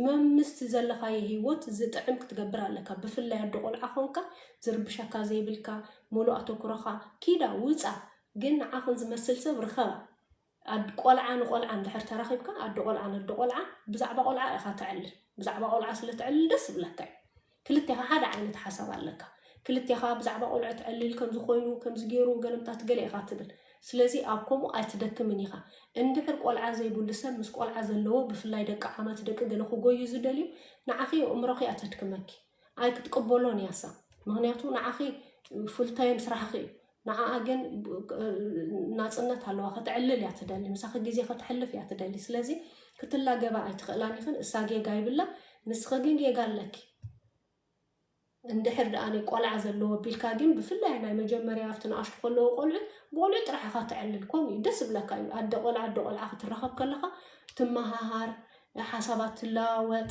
መምስቲ ዘለኻዮ ሂወት ዝጥዕም ክትገብር ኣለካ። ብፍላይ ኣዶ ቆልዓ ኮንካ ዝርብሸካ ዘይብልካ ሙሉእ ኣተኩሮኻ ኪዳ ውጻ ግን ንዓኽን ዝመስል ሰብ ርኸባ። ኣድ ቆልዓ ንቆልዓ እንድሕር ተራኺብካ ኣዶ ቆልዓ ነዶ ቆልዓ ብዛዕባ ቆልዓ ኢኻ ተዕልል ብዛዕባ ቆልዓ ስለ ተዕልል ደስ ዝብለካ እዩ ክልቴኻ ሓደ ዓይነት ሓሳብ ኣለካ ክልቴኻ ብዛዕባ ቆልዑ ተዕልል ከምዚ ኮይኑ ከምዚ ገይሩ ገለምታት ገለ ኢኻ ትብል ስለዚ ኣብ ከምኡ ኣይትደክምን ኢኻ እንድሕር ቆልዓ ዘይብሉ ሰብ ምስ ቆልዓ ዘለዎ ብፍላይ ደቂ ዓመት ደቂ ገለ ክጎዩ ዝደልዩ ንዓኺ የእምሮኺ እያ ተድክመኪ ኣይክትቅበሎን እያሳ ምክንያቱ ንዓኺ ፉልታይም ስራሕኺ እዩ ንዓኣ ግን ናጽነት ኣለዋ ከተዕልል እያ ትደሊ ምሳኺ ግዜ ከተሕልፍ እያ ትደሊ ስለዚ ክትላገባ ኣይትኽእላን ኢኽን እሳ ጌጋ ይብላ ንስኺ ግን ጌጋ ኣለኪ እንድሕር ደኣ ቆልዓ ዘለዎ ቢልካ ግን ብፍላይ ናይ መጀመርያ ኣብቲ ንኣሽቱ ከለዎ ቆልዑ ብቆልዑ ጥራሕ ኢኻ ትዕልል ከምኡ እዩ ደስ ብለካ እዩ ኣደ ቆልዓ ኣደ ቆልዓ ክትራኸብ ከለኻ ትመሃሃር ሓሳባት ትለዋወጥ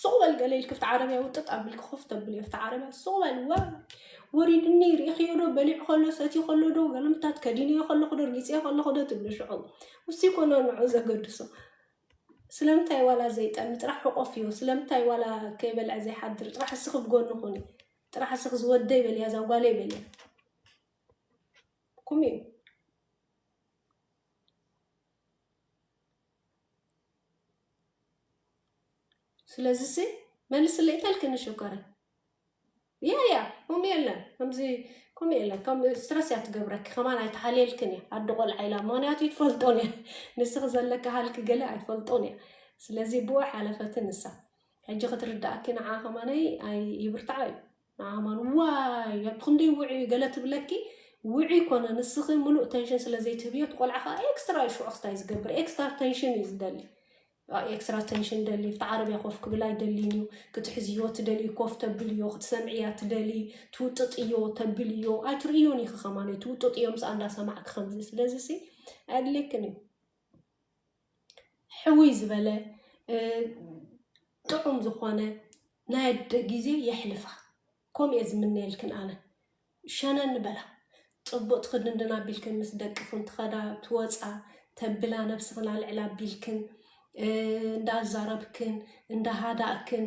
ሱቕ በል ገለ ኢልክ ኣብቲ ዓረብያ ውጥጥ ኣቢልክ ኮፍ ተብልዮ ኣብቲ ዓረብያ ሱቕ በል ወ ወሪድኒ ርኢኽዮ ዶ በሊዑ ከሎ ሰትዩ ከሎ ዶ ገለምታት ከዲንዮ ከለኹ ዶ ርጊፅዮ ከለኹ ዶ ትብሉ ሽዑ ውሲ ኮኖ ንዑ ዘገድሶ ስለምንታይ ዋላ ዘይጠሚ ጥራሕ ሕቆፍዮ ስለምንታይ ዋላ ከይበልዐ ዘይሓድር ጥራሕ እስኺ ብጎኒ ኩኒ ጥራሕ እስኺ ዝወደይ በልያ እዛ ጓለይ በልያ ኩም እዩ ስለዚ ሲ መልስለይ ተልክኒ ሽኮረ ያ ያ ከምኡ የለን ከምዚ ከምኡ የለን ከም ስትረስ እያ ትገብረኪ ከማን ኣይተሓልየልክን እያ ኣደ ቆልዓ ኢላ ምክንያቱ ይትፈልጦን እያ ንስኺ ዘለካ ሃልኪ ገለ ኣይትፈልጦን እያ ስለዚ ብኡ ሓለፈትን ንሳ ሕጂ ክትርዳእኪ ንዓ ከማነይ ኣይ ይብርትዓ እዩ ንኣማን ዋይ ኣቦ ክንደይ ውዑይ እዩ ገለ ትብለኪ ውዑይ ኮነ ንስኺ ምሉእ ተንሽን ስለ ዘይትህብዮ እቲ ቆልዓ ከዓ ኤክስትራ እዩ ሽዑ ክስታይ ዝገብር ኤክስትራ ተንሽን እዩ ዝደሊ ኤክስትራ ተንሽን ደሊ ኣብቲ ዓረብያ ኮፍ ክብል ኣይደሊን እዩ ክትሕዝዮ ትደሊ ኮፍ ተብልዮ ክትሰምዕያ ትደሊ ትውጥጥዮ ተብልዮ ኣይትርእዮን ኢኺ ከማን ትውጥጥዮ ምስ ኣንዳሰማዕኪ ከምዚ ስለዚ ሲ ኣድሌክን እዩ ሕውይ ዝበለ ጥዑም ዝኾነ ናይ ኣደ ግዜ የሕልፋ ከምኡ እየ ዝምነየልክን ኣነ ሸነን በላ ፅቡቅ ትክድንድን ኣቢልክን ምስ ደቅክን ትኸዳ ትወፃ ተብላ ነብስክን ኣልዕላ ኣቢልክን እንዳዛረብክን እንዳሃዳእክን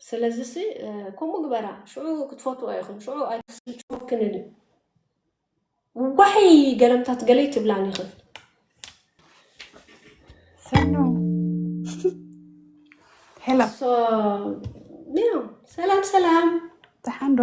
ስለዚሲ ከምኡ ግበራ፣ ሽዑ ክትፈትዎ ኢኽን፣ ሽዑ ኣይክስልችወክንን እዩ። ዋይ ገለምታት ገለ ይትብላን ኢኽን። ሰኑ ሄሎ፣ ሶ ያው ሰላም ሰላም፣ ደሓን ዶ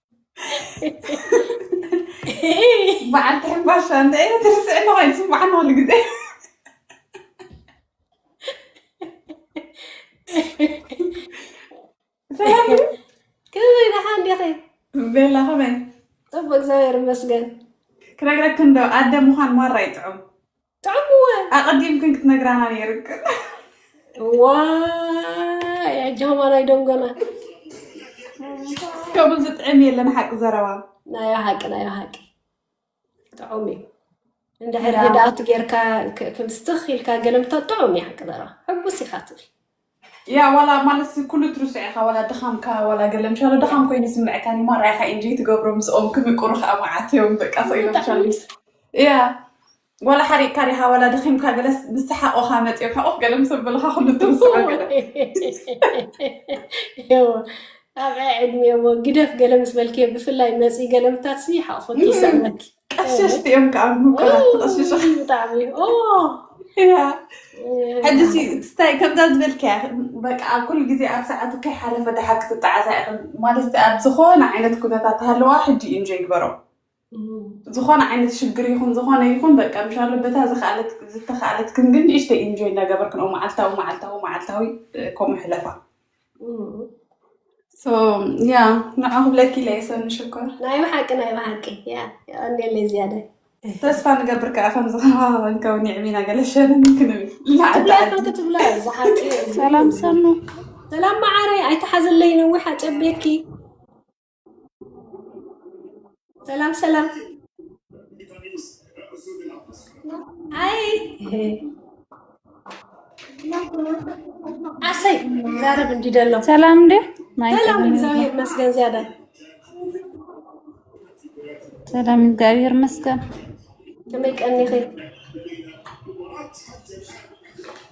በዓል ትሕምባሻ እንታይ ኢለ ትርስዕ ኣለኻ ይስምዓን ኩሉ ግዜ ሰላም እዩ ከመይ ደሓ እንዲኺ ቤላ ከመይ ፅቡቅ እግዚኣብሔር ይመስገን ክነግረክን ዶ ኣደ ምዃን ማራ ይጥዑም ጥዕምወ ኣቐዲምክን ክትነግራና ነይርክን ዋይ ኣጃማን ኣይደንጎናን ከምኡ ዝጥዕም የለን ሓቂ ዘረባ ናዮ ሓቂ ናዮ ሓቂ ጥዑም እዩ እንድሕር ህድኣቱ ጌርካ ክምስትኽ ኢልካ ገለምታ ጥዑም እዩ ሓቂ ዘረባ ሕጉስ ኢኻ ትብል ያእ ዋላ ማለትስ ኩሉ ትርስዕ ኢኻ ዋላ ድኻምካ ዋላ ገለ ምሻሎ ድኻም ኮይኑ ይስምዐካ ን ማራ ኢኻ ኢንጆይ ትገብሮ ምስኦም ክምቅሩ ከኣ መዓት እዮም በቃ ስቕ ኢሎም ብጣዕሚ ሻሎስ ያእ ዋላ ሓሪቕካ ዲኻ ዋላ ድኺምካ ገለስ ምስ ሰሓቑኻ መጺኦም ሕቑፍ ገለ ምስ ኣበሉኻ ኩሉ ትርስዖ ገለ እዎ ኣብ ዕዕድሜ እዎ ግደፍ ገለ ምስ በልክዮ ብፍላይ መጺ ገለ ምታትሲ ሓቑፉኪ ይስዕመኪ ቀሸስቲ እዮም ከዓ ምቁራት ተቐሽሹ ብጣዕሚ ሕጂሲ ስታይ ከምዛ ዝበልከያ በቃ ኣብ ኩሉ ግዜ ኣብ ሰዓቱ ከይሓለፈ ድሓር ክትጠዓሳ ኢኽን ማለት ኣብ ዝኾነ ዓይነት ኩነታት ሃለዋ ሕጂ እዩ እንጆ ይግበሮ ዝኾነ ዓይነት ሽግር ይኹን ዝኾነ ይኹን በቃ ምሻሎ በታ ዝኸኣለት ዝተኸኣለትክን ግን ንእሽተይ እንጆ እናገበርክን መዓልታዊ መዓልታዊ መዓልታዊ ከምኡ ሕለፋ ያ ንዓ ክብለኪ ኢለ እየ ሰኒ ሽኮር ናይ ብሓቂ ናይ ብሓቂ ያ የቀኒለይ ዝያደ ተስፋ ንገብር ከዓ ከም ዝኸባኸበን ከውን የዕሚና ገለሸንን ክንብል ብላይ ክንክቲ ብላይ ዝሓቂ ሰላም ሰኑ ሰላም መዓረይ ኣይተሓዘለይ ነዊሕ ኣጨቤኪ ሰላም ሰላም። አይ አሰይ ዛረብ እንዲደለው ሰላም እንዴ ሰላም እግዚአብሔር ይመስገን። ዚያዳ ሰላም እግዚአብሔር ይመስገን። ተመቀኔ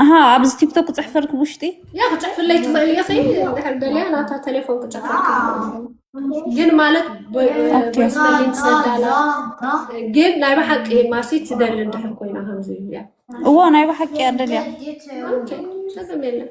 ኣሃ ኣብዚ ቲክቶክ ክፅሕፈልክ ውሽጢ ያ ክፅሕፍለይ ትኽእል ኢኺ እንድሕር ደልያ ናታ ቴሌፎን ክፅሕፈልክ ግን ማለት ቮይስመሊን ትሰዳላ ግን ናይ ብሓቂ ማሲ ትደሊ እንድሕር ኮይና ከምዚ እያ እዎ ናይ ብሓቂ እያ ደልያ ኦኬ፣ ጸገም የለን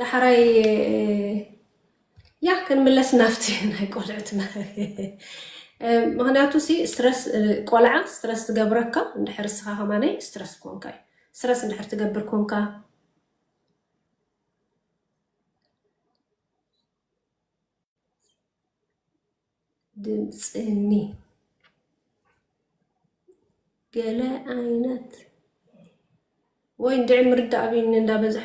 ዳሕራይ ያ ክንምለስ ናብቲ ናይ ቆልዕትና ምክንያቱ ሲ ስትረስ ቆልዓ ስትረስ ትገብረካ እንድሕር እስኻ ከማነይ ስትረስ ኮንካ እዩ ስትረስ እንድሕር ትገብር ኮንካ ድምፅኒ ገለ ዓይነት ወይ እንድዒ ምርዳእ ኣብኒ እንዳበዝሐ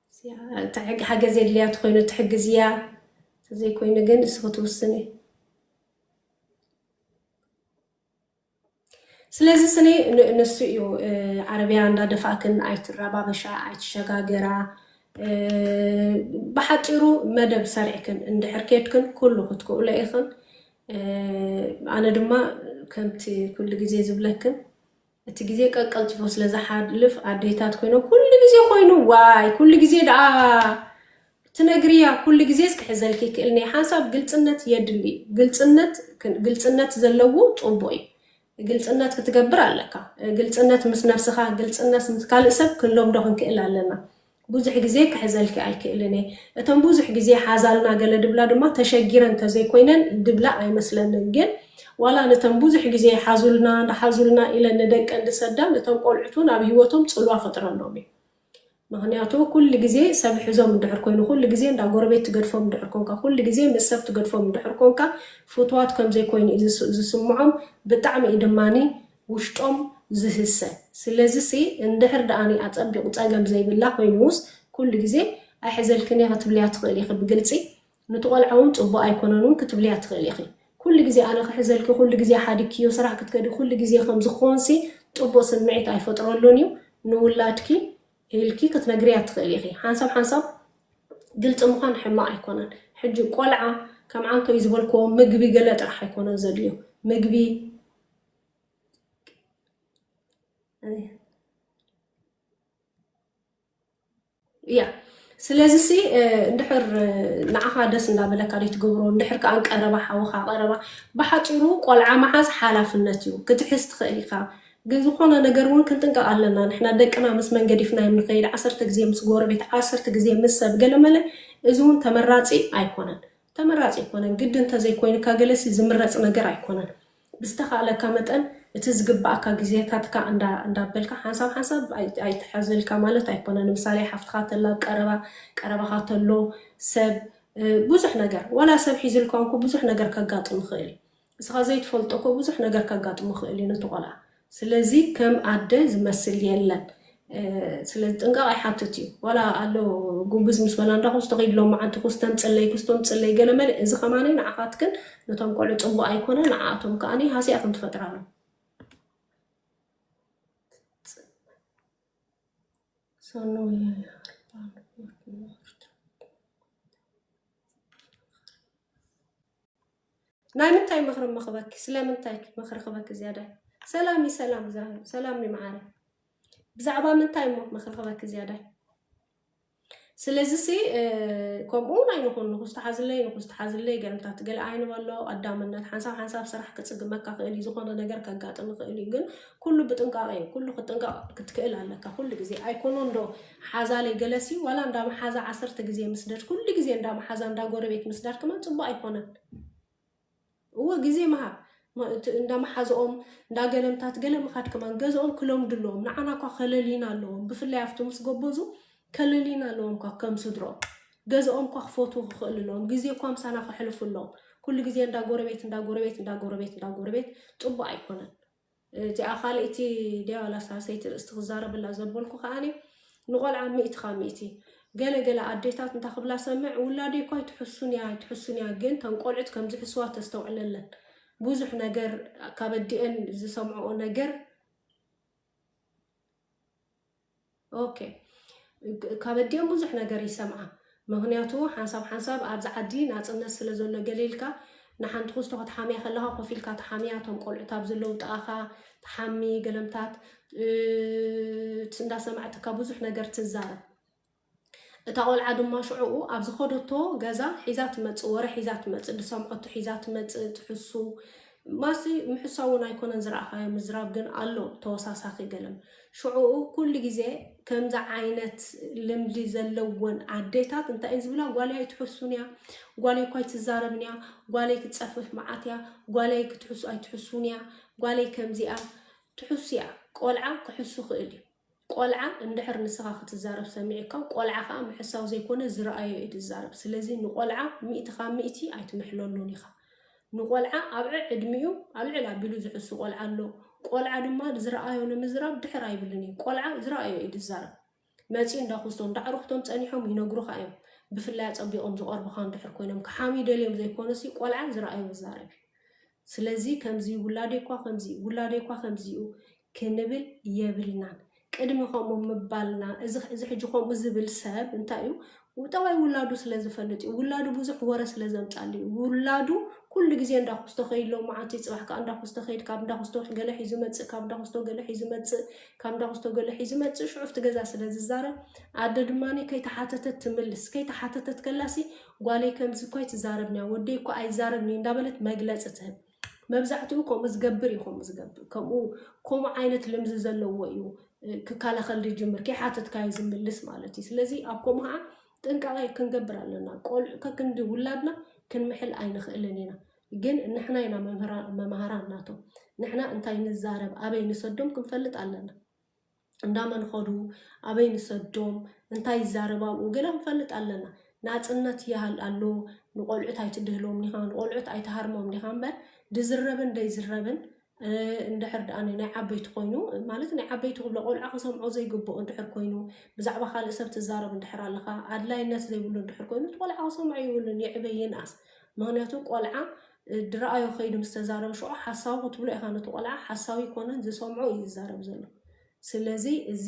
እንታይ ሓገዝ የድልያ ተኮይኑ ትሕግዝያ ተዘይኮይኑ ግን እስኺ ትውስኒ ስለዚ ስኒ ንሱ እዩ ዓረብያ እንዳደፋእክን ኣይትረባበሻ ኣይትሸጋገራ ብሓፂሩ መደብ ሰሪዕክን እንድሕር ኬድክን ኩሉ ክትክእሎ ኢኽን ኣነ ድማ ከምቲ ኩሉ ግዜ ዝብለክን እቲ ግዜ ቀቀልጥፎ ስለ ዝሓልፍ ኣዴታት ኮይኖ ኩሉ ግዜ ኮይኑ ዋይ ኩሉ ግዜ ደኣ ትነግርያ ኩሉ ግዜስ ክሕዘልኪ ይክእልኒ ሓንሳብ ግልፅነት የድሊ ግልፅነት ግልፅነት ዘለዎ ፅቡቅ እዩ ግልፅነት ክትገብር ኣለካ ግልፅነት ምስ ነብስካ ግልፅነት ምስ ካልእ ሰብ ክንለምዶ ክንክእል ኣለና ብዙሕ ግዜ ክሕዘልኪ ኣይክእልን እየ። እተን ብዙሕ ግዜ ሓዛልና ገለ ድብላ ድማ ተሸጊረን ተዘይኮይነን ድብላ ኣይመስለንን ግን ዋላ ንተን ብዙሕ ግዜ ሓዙልና ሓዙልና ኢለን ንደቀን ድሰዳ ንቶም ቆልዑት ውን ኣብ ሂወቶም ጽልዋ ፈጥረሎም እዩ ምክንያቱ ኩሉ ግዜ ሰብ ሕዞም እንድሕር ኮይኑ ኩሉ ግዜ እንዳ ጎረቤት ትገድፎም እንድሕር ኮንካ ኩሉ ግዜ ምስ ሰብ ትገድፎም እንድሕር ኮንካ ፍትዋት ከምዘይኮይኑ እዩ ዝስምዖም ብጣዕሚ እዩ ድማኒ ውሽጦም ዝህሰ ስለዚሲ እንድሕር ድኣኒ ኣጸቢቁ ጸገም ዘይብላ ኮይኑስ ኩሉ ግዜ ኣይሕዘልክን እየ ክትብልያ ትክእሊ ኢኪ ብግልጺ ኑቲ ቆልዓ ውን ጽቡቅ ኣይኮነን ውን ክትብልያ ትክእሊ ኢኪ ኩሉ ግዜ ኣነ ክሕዘልኪ ኩሉ ግዜ ሓዲግክዮ ስራሕ ክትከዲ ኩሉ ግዜ ከምዚ ክኮንሲ ጽቡቅ ስምዒት ኣይፈጥረሉን እዩ ንውላድኪ ኢልኪ ክትነግርያ ትክእሊ ኢኪ ሓንሳብ ሓንሳብ ግልጺ ምኳን ሕማቅ ኣይኮነን ሕጂ ቆልዓ ከም ዓንከይ ዝበልክዎ ምግቢ ገለ ጥራሕ ኣይኮነን ዘድልዮ ምግቢ እያ ስለዚ ሲ እንድሕር ንዓኻ ደስ እንዳበለካ ዘይትገብሮ እንድሕር ከዓ ቀረባ ሓውኻ ቀረባ ብሓፂሩ ቆልዓ መሓዝ ሓላፍነት እዩ ክትሕዝ ትኽእል ኢኻ ግን ዝኾነ ነገር እውን ክንጥንቀቕ ኣለና ንሕና ደቅና ምስ መን ገዲፍናዮም ንኸይድ ዓሰርተ ግዜ ምስ ጎረቤት ዓሰርተ ግዜ ምስ ሰብ ገለመለ እዚ እውን ተመራፂ ኣይኮነን ተመራፂ ኣይኮነን ግዲ እንተዘይኮይንካ ገለሲ ዝምረፅ ነገር ኣይኮነን ብዝተኻእለካ መጠን እቲ ዝግባኣካ ግዜካትካ እንዳ እንዳበልካ ሓንሳብ ሓንሳብ ኣይ ኣይትሓዝልካ ማለት ኣይኮነን ንምሳሌ ሓፍትኻ ተላ ኣብ ቀረባ ቀረባኻ ተሎ ሰብ ብዙሕ ነገር ዋላ ሰብ ሒዝልኳ እንኮ ብዙሕ ነገር ከጋጥም ይኽእል እዩ እስኻ ዘይትፈልጦ እኮ ብዙሕ ነገር ከጋጥሞ ይኽእል እዩ ነቲ ቆልዓ ስለዚ ከም ኣደ ዝመስል የለን ስለዚ ጥንቃቀ ይሓትት እዩ ዋላ ኣሎ ጉብዝ ምስ በላ እንዳ ኩስቶ ከይድ ሎማዓንቲ ኩስ ተምፅለይ ኩስ ተምፅለይ ገለመለ እዚ ከማኒ ንዓካትክን ነቶም ቆልዑ ፅቡቅ ኣይኮነ ንዓኣቶም ከዓኒ ሃስያ ከም ትፈጥራሎም ሰኑ ናይ ምንታይ ምክሪ እሞ ክበኪ ስለምንታይ ምክሪ ክበኪ ዝያዳይ ሰላምይ ሰላም ዛህሩ ሰላምይ ማዓረይ ብዛዕባ ምንታይ እሞ ምክሪ ክበኪ ዝያዳይ ስለዚሲ ከምኡ ናይ ንኹን ንኹስ ተሓዝለይ ንኹስ ተሓዝለይ ገርምታት ገለ ኣይንበሎ ቀዳምነት ሓንሳብ ሓንሳብ ስራሕ ክፅግመካ ክእል እዩ ዝኾነ ነገር ከጋጥም ይኽእል እዩ ግን ኩሉ ብጥንቃቄ እዩ ኩሉ ክትጥንቀቅ ክትክእል ኣለካ ኩሉ ግዜ ኣይኮኖ እንዶ ሓዛለይ ገለሲ ዋላ እንዳ መሓዛ ዓሰርተ ግዜ ምስደድ ኩሉ ግዜ እንዳ መሓዛ እንዳ ጎረቤት ምስዳድ ከማን ጽቡቅ ኣይኮነን እወ ግዜ ምሃብ እንዳ መሓዝኦም እንዳ ገለምታት ገለ ምኻድ ከማን ገዝኦም ክለምዱ ኣለዎም ንዓና እኳ ከለሊና ኣለዎም ብፍላይ ኣብቲ ምስ ጎበዙ ከለሊና ኣለዎም እኳ ከም ስድሮም ገዝኦም እኳ ክፈትዉ ክኽእሉ ኣለዎም ግዜ እኳ ምሳና ከሕልፉ ኣለዎም ኩሉ ግዜ እንዳ ጎረቤት እንዳ ጎረቤት እንዳ ጎረቤት እንዳ ጎረቤት ጽቡቅ ኣይኮነን እቲኣ ካልእቲ ድያ ዋላ ሳልሰይቲ ርእስቲ ክዛረበላ ዘበልኩ ከኣኒ ንቆልዓ ሚእቲ ካብ ሚእቲ ገለ ገለ ኣዴታት እንታ ክብላ ሰምዕ ውላደይ እኳ ኣይትሕሱን እያ ኣይትሕሱን እያ ግን ተን ቆልዑት ከም ዝሕስዋ ተስተውዕለለን ብዙሕ ነገር ካብ ኣዲኤን ዝሰምዕኦ ነገር ኦኬ ካብ ኣዲኦም ብዙሕ ነገር ይሰምዓ ምክንያቱ ሓንሳብ ሓንሳብ ኣብዚ ዓዲ ናፅነት ስለ ዘሎ ገለ ኢልካ ንሓንቲ ክስቶ ክትሓምያ ከለካ ኮፍ ኢልካ ትሓምያ እቶም ቆልዑት ኣብ ዘለዉ ጥቓኻ ትሓሚ ገለምታት እንዳሰማዕትካ ብዙሕ ነገር ትዛረብ እታ ቆልዓ ድማ ሽዑኡ ኣብ ዝኸደቶ ገዛ ሒዛ ትመጽእ፣ ወረ ሒዛ ትመጽእ፣ ዝሰምዐቶ ሒዛ ትመጽእ፣ ትሕሱ። ማሲ ምሕሳው እውን ኣይኮነን ዝረኣኻዮ ምዝራብ ግን ኣሎ ተወሳሳኺ ገለን። ሽዑኡ ኩሉ ግዜ ከምዚ ዓይነት ልምዲ ዘለወን ኣዴታት እንታይ እየን ዝብላ? ጓለይ ኣይትሕሱን እያ፣ ጓለይ እኳ ኣይትዛረብን እያ፣ ጓለይ ክትጸፍፍ መዓት እያ፣ ጓለይ ክትሕሱ ኣይትሕሱን እያ፣ ጓለይ ከምዚ እያ። ትሕሱ እያ፣ ቆልዓ ክሕሱ ክእል እዩ። ቆልዓ እንድሕር ንስኻ ክትዛረብ ሰሚዑካ ቆልዓ ከኣ ምሕሳው ዘይኮነ ዝረኣዮ እዩ ዝዛረብ ስለዚ ንቆልዓ ሚእቲ ካብ ሚእቲ ኣይትምሕለሉን ኢኻ ንቆልዓ ኣብ ዕዕድሚኡ ኣልዕል ኣቢሉ ዝሕሱ ቆልዓ ኣሎ ቆልዓ ድማ ዝረኣዮ ንምዝራብ ድሕር ኣይብልን እዩ ቆልዓ ዝረኣዮ እዩ ዝዛረብ መጺኡ እንዳኹስቶ እንዳዕሩኽቶም ጸኒሖም ይነግሩኻ እዮም ብፍላይ ኣጸቢቖም ዝቐርቡኻ እንድሕር ኮይኖም ክሓምዩ ደልዮም ዘይኮነሲ ቆልዓ ዝረኣዮ ዝዛረብ እዩ ስለዚ ከምዚ ውላደይ እኳ ከምዚ ውላደይ እኳ ከምዚ እዩ ክንብል የብልናን ቅድሚ ከምኡ ምባልና እዚ እዚ ሕጂ ከምኡ ዝብል ሰብ እንታይ እዩ ጠባይ ውላዱ ስለ ዝፈልጥ እዩ ውላዱ ብዙሕ ወረ ስለ ዘምጻሉ እዩ ውላዱ ኩሉ ግዜ እንዳ ኩስቶ ከይሎ መዓልቲ ጽባሕ ከኣ እንዳ ኩስቶ ከይድ ካብ እንዳ ኩስቶ ገለ ሒዙ መጽእ ካብ እንዳ ኩስቶ ገለ ሒዙ መጽእ ካብ እንዳ ኩስቶ ገለ ሒዙ መጽእ ሽዑ ኣብቲ ገዛ ስለ ዝዛረብ ኣደ ድማ ከይተሓተተት ትምልስ ከይተሓተተት ከላሲ ጓለይ ከምዚ እኮ ኣይትዛረብንያ ወደይ እኮ ኣይዛረብን እዩ እንዳበለት መግለጺ ትህብ መብዛሕትኡ ከምኡ ዝገብር እዩ ከምኡ ዝገብር ከምኡ ከምኡ ዓይነት ልምዚ ዘለዎ እዩ ክከላኸል ዝጅምር ከይሓተትካዮ ዝምልስ ማለት እዩ ስለዚ ኣብ ከምኡ ከዓ ጥንቃቐ ክንገብር ኣለና ቆልዑ ከክንዲ ውላድና ክንምሕል ኣይንኽእልን ኢና ግን ንሕና ኢና መምህራን መምሃራን ናቶም ንሕና እንታይ ንዛረብ ኣበይ ንሰዶም ክንፈልጥ ኣለና እንዳ መን ኸዱ ኣበይ ንሰዶም እንታይ ይዛረብ ኣብኡ ገለ ክንፈልጥ ኣለና ናጽነት ይሃል ኣሎ ንቆልዑት ኣይትድህሎም ዲኻ ንቆልዑት ኣይትሃርሞም ዲኻ እምበር ድዝረብን ደይዝረብን እንድሕር ደኣ ናይ ዓበይቲ ኮይኑ ማለት ናይ ዓበይቲ ክብሎ ቆልዓ ክሰምዖ ዘይግብኦ እንድሕር ኮይኑ ብዛዕባ ካልእ ሰብ ትዛረብ እንድሕር ኣለኻ ኣድላይነት ዘይብሉ እንድሕር ኮይኑ እቲ ቆልዓ ክሰምዖ ይብሉን ይዕበ ይንኣስ ምክንያቱ ቆልዓ ድራኣዮ ከይዱ ምስ ተዛረበ ሽዑ ሓሳዊ ክትብሎ ኢካ ነቲ ቆልዓ ሓሳዊ ኣይኮነን ዝሰምዖ እዩ ዝዛረብ ዘሎ ስለዚ እዚ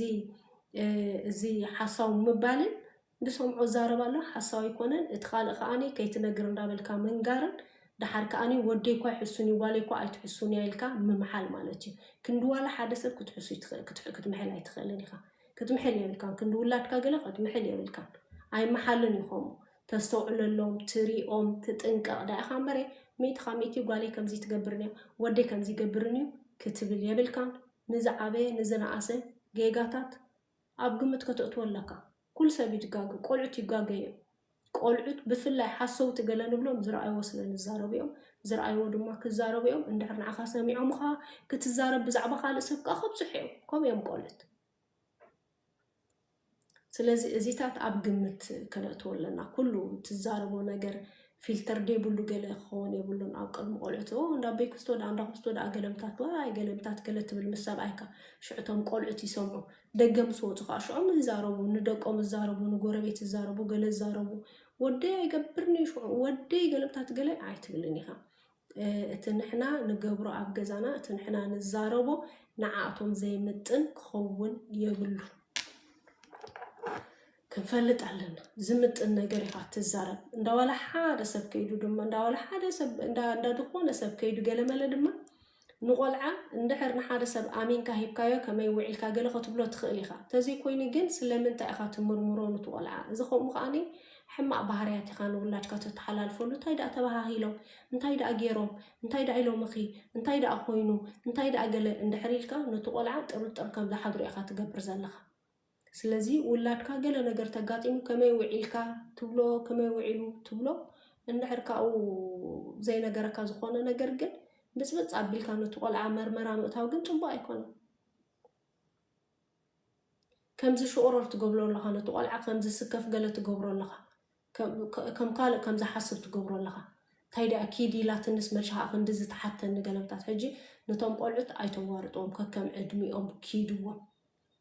እዚ ሓሳዊ ምባልን ዝሰምዖ ዝዛረብ ኣሎ ሓሳዊ ኣይኮነን እቲ ካልእ ከኣኒ ከይትነግር እንዳበልካ ምንጋርን ደሓር ከኣኒ ወደይ እኳ ይሕሱን እዩ ጓለይ እኳ ኣይትሕሱን እያ ኢልካ ምምሓል ማለት እዩ ክንዲ ዋላ ሓደ ሰብ ክትሕሱ ክትምሕል ኣይትኽእልን ኢኻ ክትምሕል የብልካን ክንዲ ውላድካ ገለ ክትምሕል የብልካን ኣይመሓልን እዩ ከምኡ ተስተውዕለሎም ትሪኦም ትጥንቀቅ ዳኣ ኢካ እምበሬ ሚእቲ ካብ ሚእቲ ጓለይ ከምዚ ትገብርን እያ ወደይ ከምዚ ይገብርን እዩ ክትብል የብልካን ንዝዓበየ ንዝነኣሰ ጌጋታት ኣብ ግምት ከተእትዎ ኣለካ ኩሉ ሰብ እዩ ዝጋገ ቆልዑት ይጋገ እዮም ቆልዑት ብፍላይ ሓሰውቲ ገለ ንብሎም ዝረኣይዎ ስለ ንዛረቡ እዮም ዝረኣይዎ ድማ ክዛረቡ እዮም እንድሕር ንዓካ ሰሚዖምካ ክትዛረብ ብዛዕባ ካልእ ሰብ ከኣ ከብጽሑ እዮም ከምኡ እዮም ቆልዑት ስለዚ እዚታት ኣብ ግምት ከነእትዎ ኣለና። ኩሉ ትዛረቦ ነገር ፊልተር ደይብሉ ገለ ክኸውን የብሉን። ኣብ ቅድሚ ቆልዑት ኦ እንዳ ኣበይ ክስቶ ደኣ እንዳ ክስቶ ደኣ ገለምታት ዋይ ገለምታት ገለ ትብል ምስ ሰብኣይካ ሽዑ እቶም ቆልዑት ይሰምዑ። ደገ ምስ ወጹ ከዓ ሽዑም ይዛረቡ፣ ንደቆም ይዛረቡ፣ ንጎረቤት ይዛረቡ፣ ገለ ይዛረቡ። ወደይ ኣይገብርን እዩ ሽዑ ወደይ ገለምታት ገለ ኣይትብልን ኢኻ። እቲ ንሕና ንገብሮ ኣብ ገዛና እቲ ንሕና ንዛረቦ ንዓኣቶም ዘይምጥን ክኸውን የብሉን። ክንፈልጥ ኣለና ዝምጥን ነገር ኢኻ እትዛረብ እንዳ ዋላ ሓደ ሰብ ከይዱ ድማ እንዳ ዋላ ሓደ ሰብ እንዳ እንዳ ዝኾነ ሰብ ከይዱ ገለመለ ድማ ንቆልዓ እንድሕር ንሓደ ሰብ ኣሚንካ ሂብካዮ ከመይ ውዒልካ ገለ ከትብሎ ትኽእል ኢኻ። ተዘይኮይኑ ግን ስለምንታይ ኢኻ ትምርምሮ ንቲ ቆልዓ እዚ ከምኡ ከዓኒ ሕማቅ ባህርያት ኢካ ንውላድካ ተተሓላልፈሉ እንታይ ደኣ ተባሃሂሎም እንታይ ደኣ ጌሮም እንታይ ደኣ ኢሎምኺ እንታይ ደኣ ኮይኑ እንታይ ደኣ ገለ እንድሕር ኢልካ ነቲ ቆልዓ ጥርጥር ከም ዝሓድሮ ኢካ ትገብር ዘለካ ስለዚ ውላድካ ገለ ነገር ተጋጢሙ ከመይ ውዒልካ ትብሎ ከመይ ውዒሉ ትብሎ እንድሕር ካብኡ ዘይነገረካ ዝኾነ ነገር ግን ብጽብጽ ኣቢልካ ነቲ ቆልዓ መርመራ ምእታው ግን ጽቡቅ ኣይኮነን። ከምዚ ሽቁሮር ትገብሎ ኣለኻ ነቲ ቆልዓ ከምዚ ስከፍ ገለ ትገብሮ ኣለኻ ከም ካልእ ከም ዝሓስብ ትገብሮ ኣለኻ ታይ ዲኣ ኪድ ኢላትንስ መን ሻሃ ክንድዚ ትሓተኒ ገለምታት ሕጂ ነቶም ቆልዑት ኣይተዋርጥዎም ከከም ዕድሚኦም ኪድዎም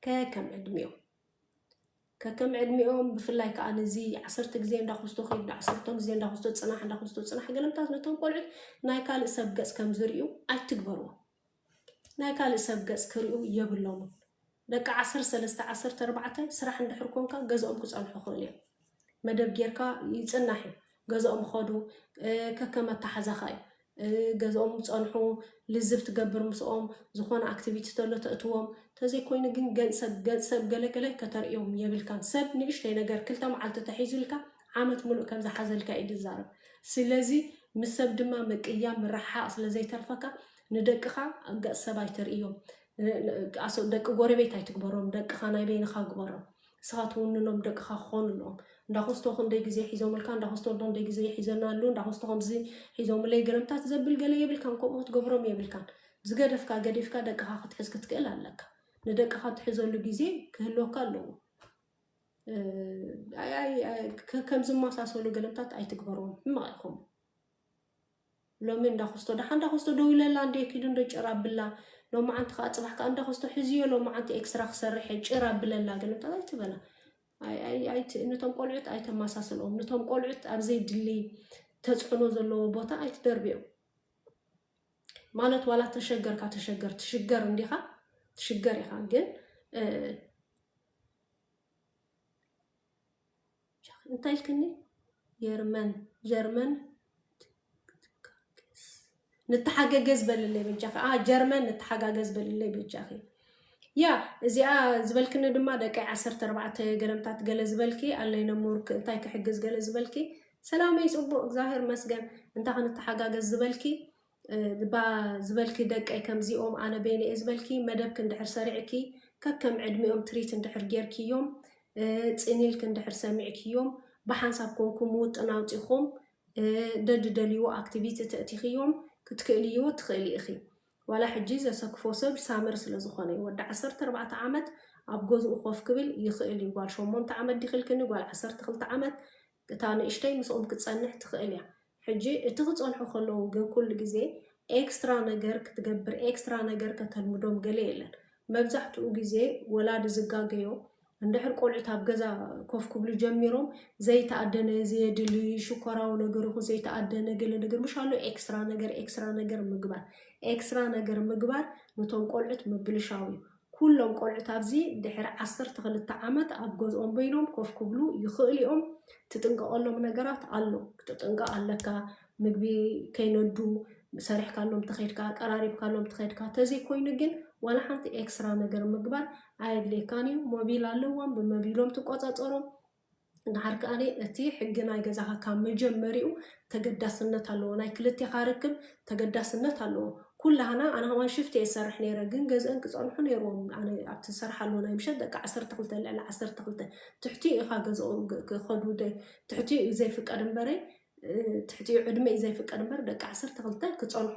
ከከም ዕድሚኦም ከከም ዕድሚኦም ብፍላይ ከዓ ነዚ ዓሰርተ ግዜ እንዳክስቶ ከይድ ዓሰርተ ግዜ እንዳክስቶ ፅናሕ እንዳክስቶ ፅናሕ ገለምታት ነቶም ቆልዑት ናይ ካልእ ሰብ ገፅ ከም ዝርዩ ኣይትግበርዎ ናይ ካልእ ሰብ ገጽ ክሪኡ የብሎሙን ደቂ ዓሰርተ ሰለስተ ዓሰርተ ኣርባዕተ ስራሕ እንድሕር ኮንካ ገዝኦም ክጸንሑ ይኽእሉ እዮም መደብ ጌርካ ይጽናሕ እዩ ገዝኦም ይኸዱ ከከም ኣተሓዛኻ እዩ ገዝኦም ጸንሑ ልዝብ ትገብር ምስኦም ዝኾነ ኣክቲቪቲ ተሎ ተእትዎም ተዘይኮይኑ ግን ገንሰብ ገንሰብ ገለገለ ከተርእዮም የብልካን ሰብ ንእሽተይ ነገር ክልተ መዓልቲ ተሒዙልካ ዓመት ምሉእ ከም ዝሓዘልካ እዩ ዝዛረብ። ስለዚ ምስ ሰብ ድማ ምቅያም ምርሕሓቕ ስለ ዘይተርፈካ ንደቅኻ ገጽ ሰብ ኣይተርእዮም። ደቂ ጎረቤት ኣይትግበሮም፣ ደቅኻ ናይ በይንኻ ግበሮም። ንስኻ ትውንኖም ደቅኻ ክኾኑ ኣለዎም። እንዳኾስቶ ክንደይ ግዜ ሒዞምልካ፣ እንዳኾስቶ ክንደይ ግዜ ሒዘና ኣለዉ፣ እንዳኾስቶ ከምዚ ሒዞምለይ ግርምታት ዘብል ገለ የብልካን፣ ከምኡ ክትገብሮም የብልካን። ዝገደፍካ ገዲፍካ ደቅኻ ክትሕዝ ክትክእል ኣለካ። ንደቅኻ ትሕዘሉ ግዜ ክህልወካ ኣለዎ። ከም ዝመሳሰሉ ገለምታት ኣይትግበርዎም ሕማቕ ኢኹም ሎሚ እንዳኾስቶ ደሓ እንዳኾስቶ ደው ኢለላ እንደ ኪዱ እንደ ጭር ኣብላ ሎማዓንቲ ከዓ ፅባሕ ከዓ እንዳኾስቶ ሕዝዮ ሎማዓንቲ ኤክስራ ክሰርሕ እየ ጭር ኣብለላ ገለምታት ኣይትበላ ነቶም ቆልዑት ኣይተመሳስልኦም ነቶም ቆልዑት ኣብ ዘይድሊ ተፅዕኖ ዘለዎ ቦታ ኣይትደርብዮም ማለት ዋላ ተሸገርካ ተሸገር ትሽገር እንዲኻ ትሽገር ኢኻ ግን እንታይ ኢልክኒ ጀርመን ጀርመን ንተሓገገዝ በልለይ በጃኺ ጀርመን ንተሓጋገዝ በልለይ በጃኺ ያ እዚኣ ዝበልክኒ ድማ ደቂ ዓሰርተ ኣርባዕተ ገለምታት ገለ ዝበልኪ ኣለይ ነሙር እንታይ ክሕግዝ ገለ ዝበልኪ ሰላመይ ፅቡቅ እግዚኣብሔር መስገን እንታይ ክንተሓጋገዝ ዝበልኪ እባ ዝበልኪ ደቀይ ከምዚኦም ኣነ በይነይ እየ ዝበልኪ መደብኪ እንድሕር ሰሪዕኪ ከከም ዕድሚኦም ትሪት እንድሕር ጌርክዮም ፅን ኢልኪ እንድሕር ሰሚዕክዮም ብሓንሳብ ኮንኩም ውጥን ኣውፂኹም ደድደልይዎ ኣክቲቪቲ ተእቲኽዮም ክትክእልይዎ ትኽእሊ ኢኺ ዋላ ሕጂ ዘሰክፎ ሰብ ሳመር ስለ ዝኾነ እዩ ወዲ ዓሰርተ ኣርባዕተ ዓመት ኣብ ገዝኡ ኮፍ ክብል ይኽእል እዩ ጓል ሸሞንተ ዓመት ዲኽልክኒ ጓል ዓሰርተ ክልተ ዓመት እታ ንእሽተይ ምስኦም ክትጸንሕ ትኽእል እያ። ሕጂ እቲ ክጸንሑ ከለዉ ግን ኩሉ ግዜ ኤክስትራ ነገር ክትገብር ኤክስትራ ነገር ከተልምዶም ገለ የለን። መብዛሕትኡ ግዜ ወላዲ ዝጋገዮ እንድሕር ቆልዑት ኣብ ገዛ ኮፍ ክብሉ ጀሚሮም ዘይተኣደነ ዘየድሊ ሽኮራዊ ነገር ይኹን ዘይተኣደነ ገለ ነገር ምሽ ኣሎ ኤክስትራ ነገር ኤክስትራ ነገር ምግባር ኤክስትራ ነገር ምግባር ንቶም ቆልዑት ምብልሻው እዩ። ኩሎም ቆልዑት ኣብዚ ድሕሪ ዓሰርተ ክልተ ዓመት ኣብ ገዝኦም በይኖም ኮፍ ክብሉ ይኽእሉ እዮም። ትጥንቀቐሎም ነገራት ኣሎ። ክትጥንቀቕ ኣለካ። ምግቢ ከይነዱ ሰሪሕካሎም ተኸድካ፣ ቀራሪብካሎም ተኸድካ። ተዘይኮይኑ ግን ዋላ ሓንቲ ኤክስራ ነገር ምግባር ኣየድልየካን እዩ። ሞቢል ኣለዎም ብመቢሎም ትቆጸጸሮም። ደሓር ከኣ እቲ ሕጊ ናይ ገዛኻ ካብ መጀመሪኡ ተገዳስነት ኣለዎ ናይ ክልቴኻ ርክብ ተገዳስነት ኣለዎ ኩላህና ኣነ ከማን ሽፍት እየ ዝሰርሕ ነይረ ግን ገዝእን ክጸንሑ ነይርዎም ኣነ ኣብቲ ዝሰርሓሉ ናይ ምሸት ደቂ ዓሰርተ ክልተ ልዕሊ ዓሰርተ ክልተ ትሕቲኡ ኢኻ ገዝኦም ክኸዱ ትሕቲኡ እዩ ዘይፍቀድ እምበረይ ትሕቲኡ ዕድመ እዩ ዘይፍቀድ እምበር ደቂ ዓሰርተ ክልተ ክጸንሑ